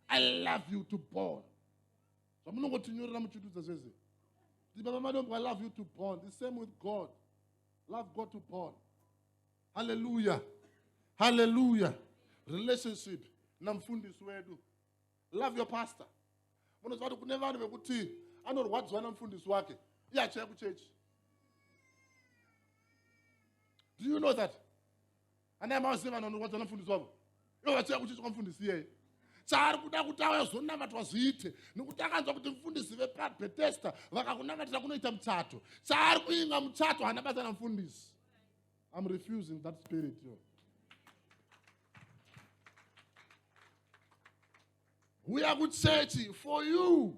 I love you to born. zvamunongotinyorera muchidudza zvese kuti baba madombo i love you to born the same with god love god to born halleluya halleluya relationship namfundisi wedu love your pastor munoziva kuti kune vanhu vekuti anorwadziwa namfundisi wake iye achiya kuchechi do you know that Ana amai vaziva vanhu vanorwadza namufundisi wavo. Ivo vachiuya kuchiitwa mufundisi iyeye. Chaari kuda kuti auya zonamatwa zviite nekuti akanzwa kuti mufundisi vepaBethesda vakakunamatira kunoita muchato. Chaari kuinga muchato hana basa namufundisi. I'm refusing that spirit yo. Huya kuchechi for you.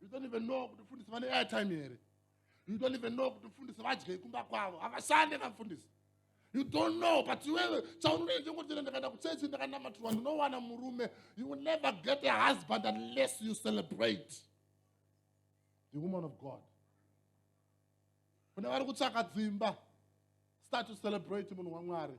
you don't even know kuti mfundisi vane airtime here you don't even know kuti mfundisi vadyei kumba kwavo havashande vamfundisi you don't know but iwewe chaunoita chekutira ndakaenda kuchechi ndakanamatirwa ndinowana murume you will never get a husband unless you celebrate the woman of god kune vari kutsvaka dzimba start to celebrate munhu wamwari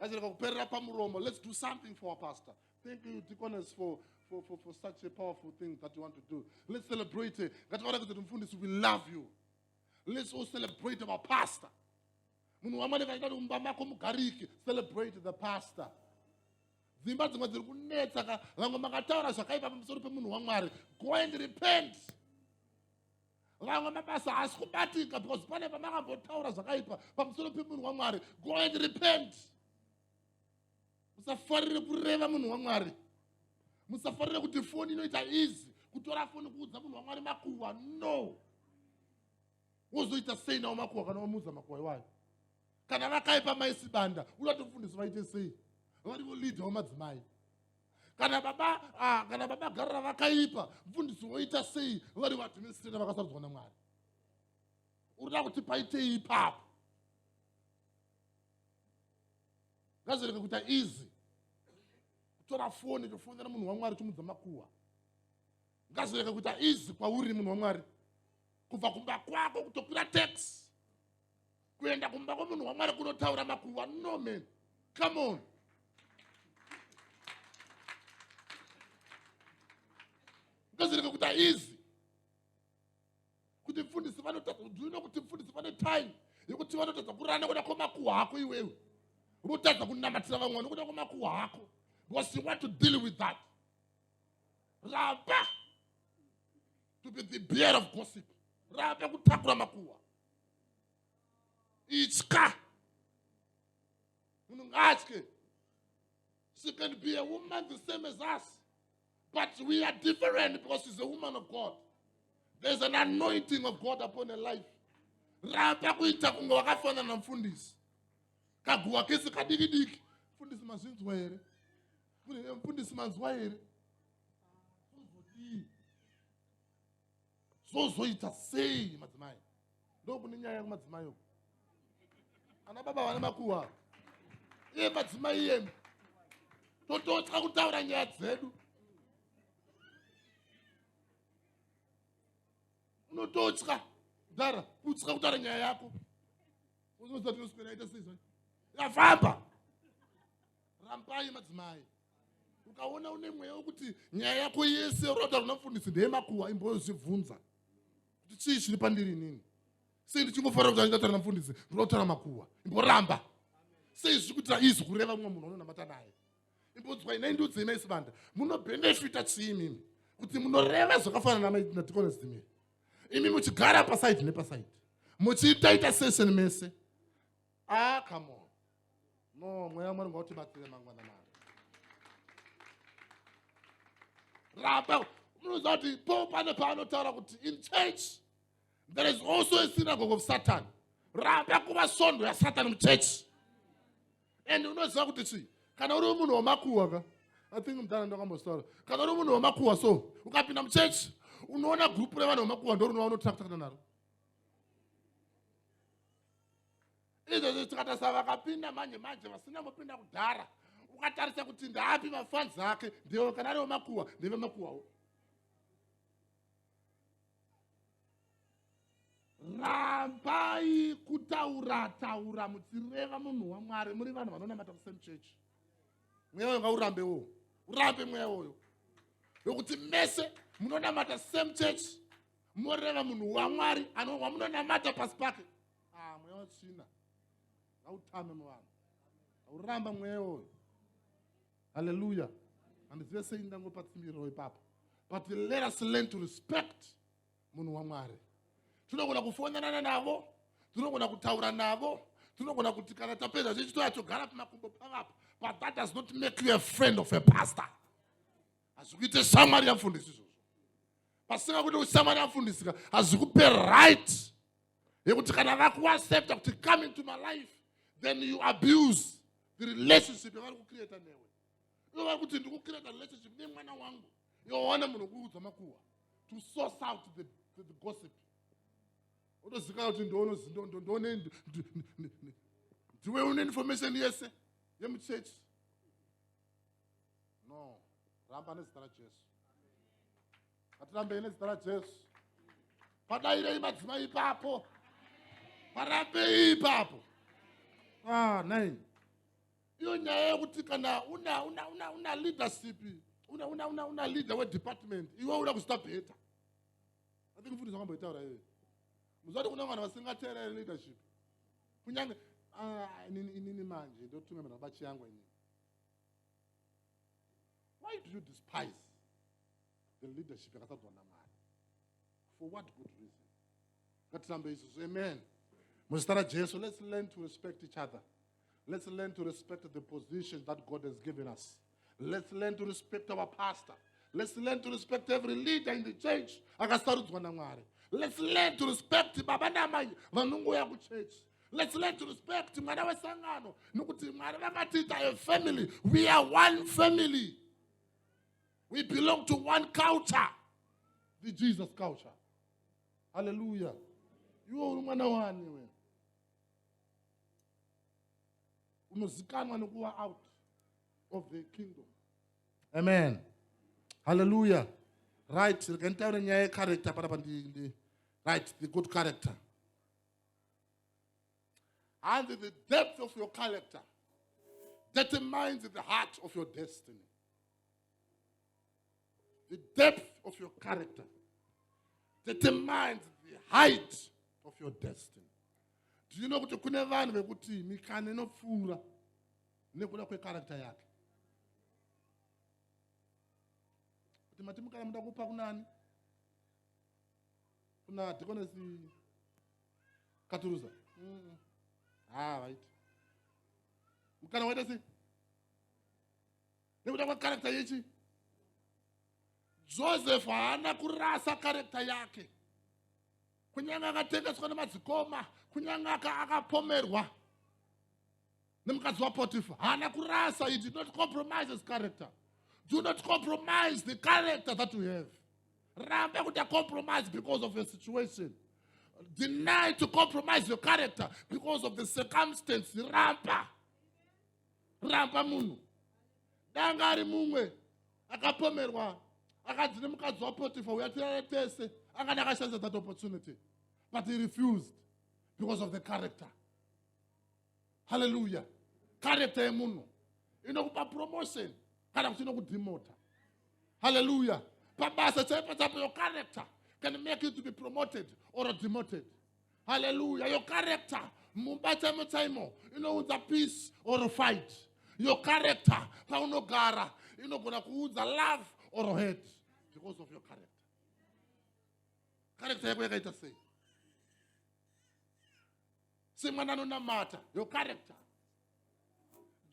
Azireka kuperera pamuromo. Let's do something for our pastor. Thank you, deaconess, for, for, for, for such a powerful thing that you want to do. Let's celebrate it. Ngativarakidze kuti mfundisi, we love you. Let's all celebrate our pastor. munhu wamwari kaita kuti mumba mako mugariki celebrate the pastor dzimba dzimwe dziri kunetsa ka vamwe makataura zvakaipa pamusoro pemunhu wamwari go and repent vamwe mabasa haasi kubatika because pane pamakambotaura zvakaipa pamusoro pemunhu wamwari go and repent musafarire kureva munhu wamwari musafarire kuti foni inoita easy kutora foni kuudza munhu wamwari makuhwa no wozoita sei nawo makuhwa kana wamuudza makuhwa iwayo kana vakaipa maisibanda unotofundiso vaite sei varivo leader wamadzimai kana baba ah, kana baba garira vakaipa mfundisi woita sei vari vadministrata vakasarudzwa namwari urida kuti paitei ipapo ngazvireke kuita easy kutora foni chofonera munhu wamwari chomudza makuwa ngazvireke kuita easy kwauri munhu wamwari kubva kumba kwako kutokwira taxi kuenda kumba kwemunhu wamwari kunotaura makuva no man come on ndozireke kuti haizi kuti mfundisi vanotadza kudzivina kuti mfundisi vane time yekuti vanotadza kurana nekuda kwemakuwa hako iwewe unotadza kunamatira vamwe vane kuda kwemakuwa hako because you want to deal with that ramba to be the bear of gossip ramba kutakura makuwa itya munhu ngaatye she can be a woman the same as us but we are different because she's a woman of god there's an anointing of god upon her life ramba kuita kunge wakafanana na mfundisi kaguwa kese kadiki diki mfundisi mazvinzwa here mfundisi manzwa here zvozoita sei madzimai ndokune nyaya kumadzimai uku ana baba vane makuwa iye madzimai iyemi tototya kutaura nyaya dzedu unototya ndara kutya kutaura nyaya yako uzoza tinoswera ita seizvai yafamba rambai madzimai ukaona une mweya wekuti nyaya yako yese uroda kuna mfundisi ndeyemakuwa imbozvibvunza kuti chii chiri pandiri inini sei ndichingofarira kuti anditaura namfundisi ndoda kutaura makuwa imboramba sei zviri kuitira izwi kureva mumwe munhu anonamata naye imbodzwa inai ndiudzei maisibanda munobhenefita chii imimi kuti munoreva zvakafanana natikonezimiri imi muchigara pasaidi nepasaidi muchiitaita session mese ah come on no mweya wamwari ngautibatsire mangwana mari ramba munoziva kuti po pane paanotaura kuti in church there is also a synagogue of satan ramba kuva sondo yasatan muchurch and unoziva kuti chii kana uri munhu wemakuwa ka i think mudhara ndakambostaura kana uri munhu wemakuwa so ukapinda muchechi unoona gurupu revanhu vemakuwa ndorunova unotractakana naro izvozvo tikatarisa vakapinda manje manje vasina mupinda kudhara ukatarisa kuti ndaapi mafanzi ake ndevo kana ari vemakuwa ndevemakuwawo rambai kutaura taura muchireva munhu wamwari muri vanhu vanonamata kusame church mweya wanga urambe wo urambe mweya woyo wekuti mese munonamata same church moreva munhu wamwari anowamunonamata pasi pake ah mweya wetsvina ngautame muvanhu ngauramba mweya uyu haleluya handizive sei ndangopa tsimbiriro ipapo but let us learn to respect munhu wamwari tinogona kufonanana navo tinogona kutaura navo tinogona kuti kana tapedza chechi toya togara pamakumbo pavapo but that does not make you a friend of a pastor hazvi kuite shamwari yamfundisi izvozvo pasina kuti ushamwari yamfundisika hazvi kupe right yekuti kana vakuaccepta kuti come into my life then you abuse the relationship yavari kucreata newe ivo vari kuti ndikucreata relationship nemwana wangu yoona munhu kuudza makuhwa to source out the, the, the gossip otozikana kuti ndoonozindoone ndiwe une information yese yemuchurch no ramba nezita rajesu Atirambei nezita raJesu. Padairei madzimai ipapo. Parambei ipapo. Ah, nine. Iyo nyaya yekuti kana una una una una leadership, una una una una leader we department, iwe uda kusta better. I think futhi zvakamboitaura iwe. Muzati kuna vanhu vasingateereri leadership. Kunyange ah inini inini manje ndotumemera bachi yangu inini. why do you despise the leadership yakasadzwa namwari for what good reason ngatirambe isusu amen muzita rajesu let's learn to respect each other let's learn to respect the position that god has given us let's learn to respect our pastor let's learn to respect every leader in the church akasarudzwa namwari let's learn to respect baba namai vanongouya kuchurch Let's learn to respect mwana wesangano nokuti mwari vakatiita a family we are one family we belong to one culture the jesus culture haleluya iwe uri mwana wani we unozikanwa nokuva out of the kingdom amen haleluya right rekanitaure nyaya yecarector panapa right the good character And the depth of your character determines the heart of your destiny. The depth of your character determines the height of your destiny. Do you know kuti kune vanhu vekuti mikana inopfuura nekuda kwekarakta yake kuti mati mukana muda kupa kunani kuna dhikonesi katuruza ha right mukana waita sei nekuda kwekarekta yechi joseph haana kurasa karekta yake kunyange akatengeswa nemadzikoma kunyange akapomerwa aka nemukadzi wapotifa haana kurasa he did not compromise his character do not compromise the character that you have ramba kuti acompromise because of a situation deny to compromise your character because of the circumstance ramba ramba munhu danga ari mumwe akapomerwa akanzi nemukadzi wapotifa uya tirare tese angani akashandisa that opportunity but he refused because of the character haleluya karekta yemunhu inokupa promotion kana kuti inokudhimota haleluya pabasa chaipo chaipo your character can make you to be promoted or demoted haleluya your character mumba chaimo chaimo inounza peace or fight your character paunogara inogona kuunza love or hate because of your character character yako yakaita sei semwana anonamata your character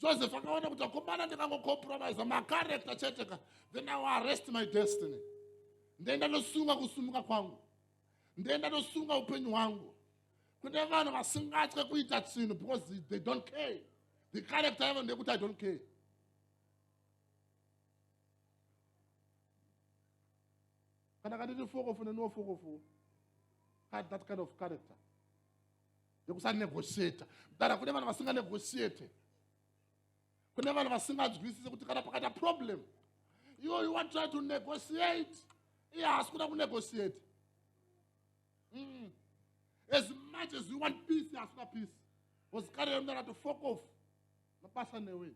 joseph akaona kuti akomana ndikangocompromise macarector chete ka then i arrest my destiny ndenda ndosunga kusumuka kwangu ndenda ndosunga upenyu hwangu kune vanhu vasingatye kuita chinhu because they don't care the character yavo ndeyekuti i don't care kana kanditi fokofu neniwo fokofu had that kind of character yekusanegotiata dara kune vanhu vasinganegotiate kune vanhu vasinganzwisise kuti kana pakaita problem iwo you want try to negotiate iye haasi kuda kunegotiate mm. as much as you want peace haasi kuda peace bcause kare yomdara to fok off mabasa newe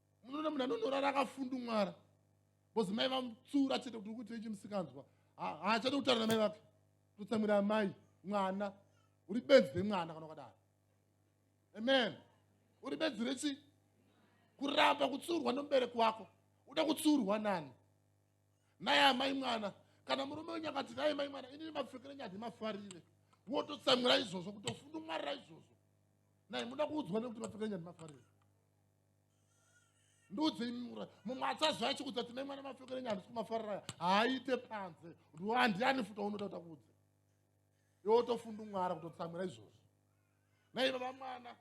munoona munhu anonorara akafundumwara bcause mai vamutsura chete kuti ukuti ichi musikanzwa haachade kutaura namai vake totsamwira amai mwana uri benzi remwana kana ukadaro amen uri benzi rechi kuramba kutsurwa nomubereki wako uda kutsurwa nani naye amai mwana kana murume wenyu akati naye mai mwana inini mapfekere nyadi mafarire wototsamwira izvozvo kutofundumwarira izvozvo naye muda kuudzwa nekuti mapfekere nyadi mafarire ndiudzei mura mumwe achaziva achikuudza kuti nemwana mapfekero enyu handisi kumafarira haaite panze ndiwo handiani futa unoda kuta kuudze iwe wotofundumwara kutotsamwira izvozvo nai baba mwana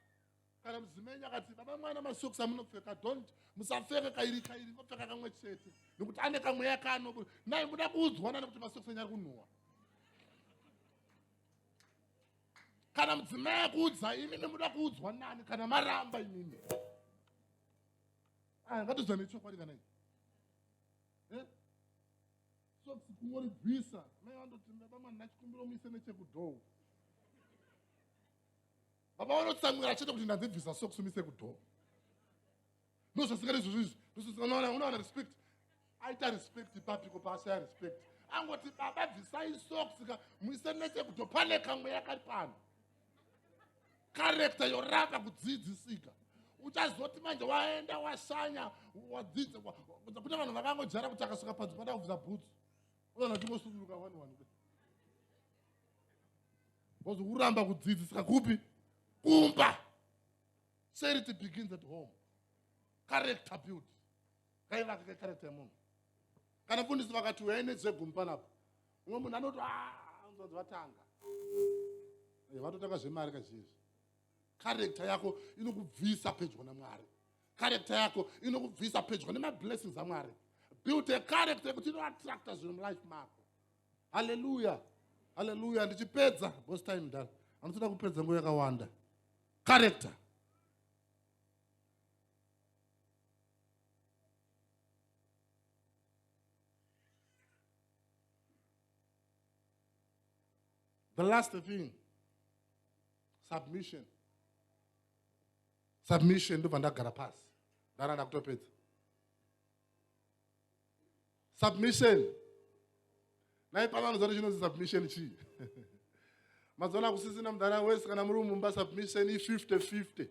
kana muzimenyi akati baba mwana masoks amunopfeka dont musapfeke kairi kairi ngopfeka kamwe chete nekuti ane kamweya kaanobu nai muda kuudzwana nekuti masoks enyu ari kunhuwa kana mudzimai akuudza imimi muda kuudzwa nani kana maramba imimi ah, ngatoziva nechokwadi kana eh? soksi kungoribvisa mai vandoti baba mwana ndachikumbira muise nechekudhoo baba vanotsamwira chete kuti ndadzibvisa soksi umise kudhoo ndozvasikana izvozvo izvi ndozvasikana unowana respect aita respect papiko paashaya respect angoti baba bvisai socks ka muise nechekuto pane kamwe yakari pano karekta yoramba kudzidzisika uchazoti manje waenda washanya wadzidza kune vanhu vakangojara kuti akasvika panzi pada kubvisa bhutsu unoona uchingosuduruka wani wani bcause uramba kudzidzisika kupi kumba Charity begins at home. Character build. Kaivaka ka character yemunhu. Kana mfundisi vakati uyai nedzegumi panapa. Umwe munhu anoti ah, anzwanzi vatanga. Eh, vatotanga zvemari kazhinji. Character yako inokubvisa pedyo naMwari. Character yako inokubvisa pedyo nemablessings aMwari. Build a character yekuti inoattracta zvinhu mulife mako. Hallelujah. Hallelujah. Ndichipedza, boss time dala. Anotoda kupedza nguva yakawanda. character The last thing, submission. Submission ndobva ndagara pasi. Ndaranda kutopedza. submission nai pavanodza kuti chinonzi submission chii mazuva akusisina mudhara wese kana muri mumba submission i50 50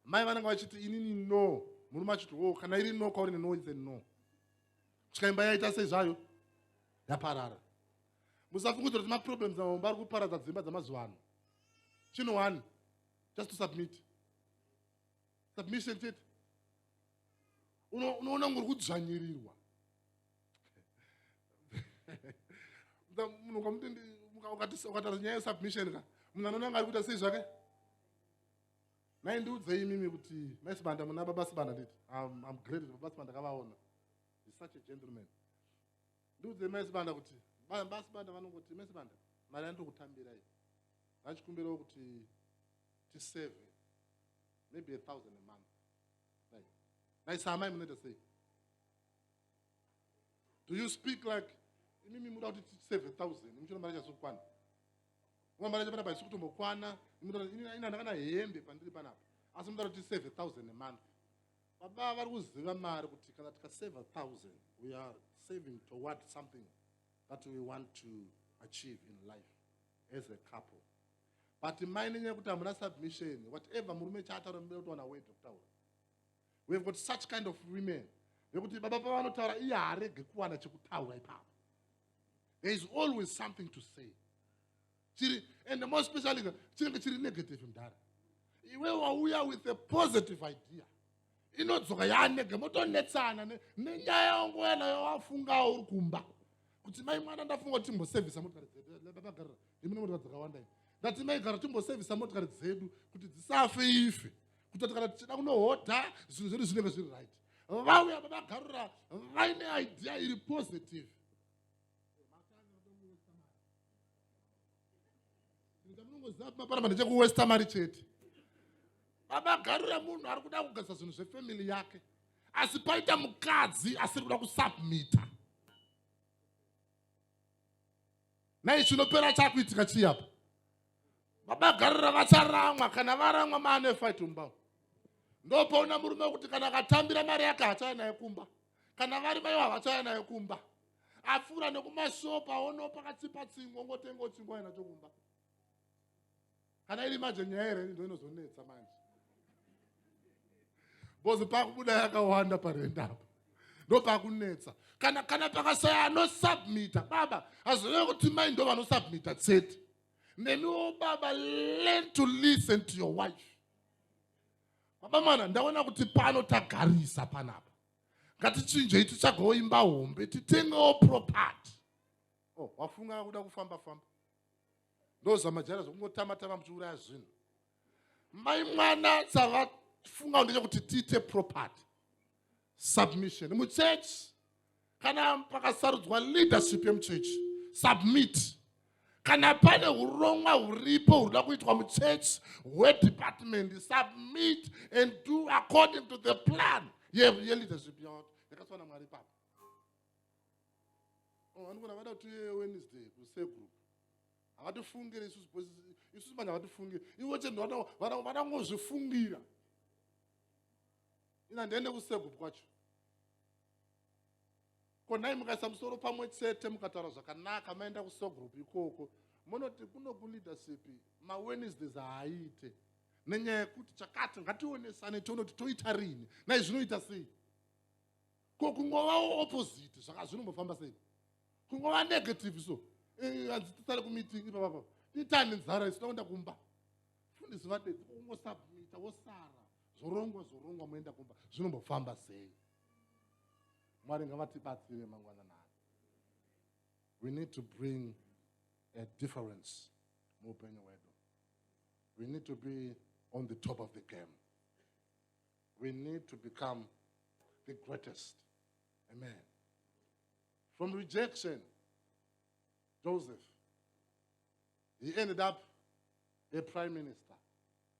mai vanenge vachiti inini no murume achiti wo kana iri no kwauri neno ise no kusvika imba yaita sei zvayo yaparara musafungudzira kuti maproblems amamumba ari kuparadza dzimba dzamazuva ano chino one just to submit submission chete unoona ngori kudzvanyirirwa munhu ukamuti ukataura nyaya yesubmission ka munhu anoona ngari kuita sei zvake maindiudzei imimi kuti maisibanda muna baba sibanda nditi am great baba sibanda kavaona is such a gentleman ndiudzei maisibanda kuti baba sibanda vanongoti maisibanda mari yandiri kutambirai vachikumbirawo kuti tiseve maybe a thousand a month nai nai saamai munoita sei do you speak like imimi muda kuti tiseve thousand muchona mari chazokwana uma mari chapanapa haisi kutombokwana inandaka na hembe pandiri panapa asi muda kuti tiseve thousand a month baba vari kuziva mari kuti kana tikaseva thousand we are saving toward something that we want to achieve in life as a couple but mai nenyaya yekuti hamuna submission whatever murume chaataura muda kutowana word rekutaura we have got such kind of women vekuti baba pavanotaura iye haarege kuwana chekutaura ipapo there is always something to say chiri and more specially chinenge chiri negative mdhara iwe wauya with a positive idea inodzoka yanege motonetsana nenyaya yangu yana yawafungawo uri kumba kuti mai mwana ndafunga kuti timbosevhisa motikari dzeduagarira imine motikari dzakawanda ndati mai gara timbosevhisa motikari dzedu kuti dzisafe ife kutoti kana tichida kunohodha zvinhu zvedu zvinenge zviri right vauya vavagarura vaine idea iri positive Panapa ndechekuwesta mari chete. Vamagarira munhu ari kuda kugadzisa zvinhu zvefamily yake. Asi paita mukadzi asiri kuda kusubmita. Nai chinopera chakuitika chii apa? Vamagarira vacharamwa kana varamwa maane fight mumba. Ndopaona murume wekuti kana akatambira mari yake hachaya naye kumba. kana vari vayo havachaya nayo kumba apfuura nekumashopu aonopa kachipa chingwa ngotenga uchingwa yena chokumba kana iri manje nyaya here ndo inozonetsa manje bcoz pakubuda yakawanda parenda apo ndopakunetsa kana kana pakashaya anosubmita baba hazvinee kuti mai ndo vanosubmita chete nemiwo baba learn to listen to your wife Mabamana, ndaona kuti pano tagarisa panapa. Ngatichinjei tichagawo imba hombe, titengewo property. Oh, wafunga kuda kufamba famba. Ndozama jara zvokungotama tama muchiuraya zvinhu. Mai mwana sava funga ndechekuti tiite property. submission muchechi kana pakasarudzwa leadership yemuchechi submit kana pane urongwa huripo hunoda kuitwa muchechi hwedepartment submit and do according to the plan yeleadership ye yacho yakaswana mwari papa oh, vanogona vada kuti wednesday kusegroup havatifungire isusu isusu manje havatifungire ivo chendovatangozvifungira ina ndiende kusegu kwacho ko nhai mukaisa musoro pamwe chete mukataura zvakanaka maenda kusogroup ikoko munoti kuno kuleadership mawednesdays haaite nenyaya yekuti chakati ngationesane tione kuti toita rini nai zvinoita sei ko kungovawo opposite zvaka zvinombofamba sei kungova negative so eh, hanzi tisare kumeeting ipapapa itani nzara isina kuenda kumba fundisi vadedzi kungosabmita wosara zvorongwa zvorongwa moenda kumba zvinombofamba sei mwari ngavatibatsire mangwana nani we need to bring a difference muupenyu hwedu we need to be on the top of the game we need to become the greatest amen from rejection joseph he ended up a prime minister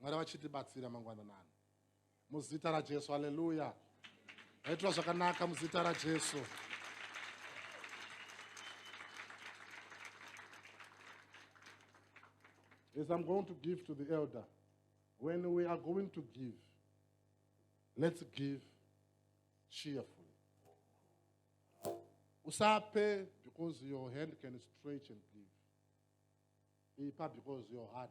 mwari vachitibatsira mangwananani muzita rajesu aleluya aitwa zvakanaka muzita rajesu as i'm going to give to the elder when we are going to give let's give cheerfully usape because your hand can stretch and give ipa because your heart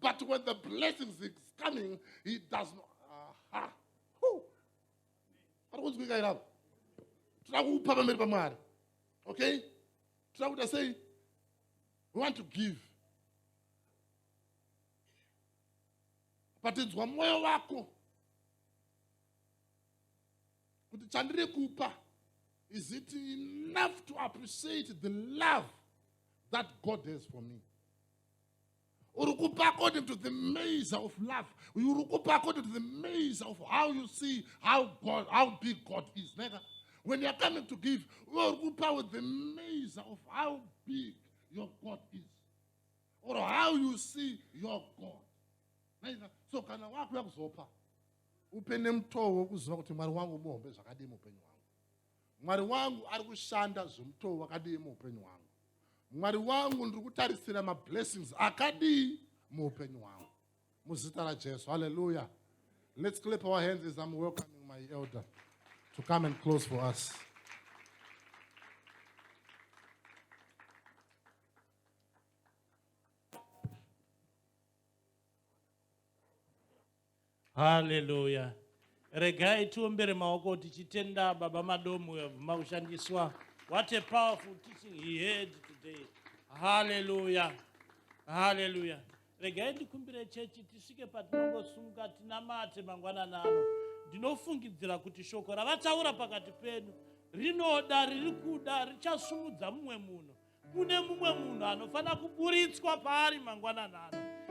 But when the blessings is coming, he does not. Aha. Who? Ari kunzwika here apa? Toda kupa pamberi paMwari. Okay? Toda kuita sei? We want to give. Patinzwa mwoyo wako kuti chandiri kupa is it enough to appreciate the love that God has for me? uri kupa according to the measure of love uri kupa according to the measure of how you see how god how big god is neka when youare coming to give uri kupa with the measure of how big your god is or how you see your god naika so kana wakuya kuzopa upe nemutoo wokuziva kuti mwari wangu muhombe zvakadii muupenyu hwangu mwari wangu ari kushanda zvemutoo wakadii muupenyu hwangu mwari wangu ndiri kutarisira mablessings akadii muupenyu hwangu muzita rajesu halleluya let's clap our hands as i'm welcoming my elder to come and close for us haleluya regai tiombere maoko tichitenda baba madomu yabvuma kushandiswa what a powerful teaching he heard today haleluya haleluya regai ndikumbire chechi tisvike patinongosumuka tinamate mangwanani ano ndinofungidzira kuti shoko ravataura pakati penu rinoda riri kuda richasumudza mumwe munhu kune mumwe munhu anofanira kuburitswa paari mangwanani ano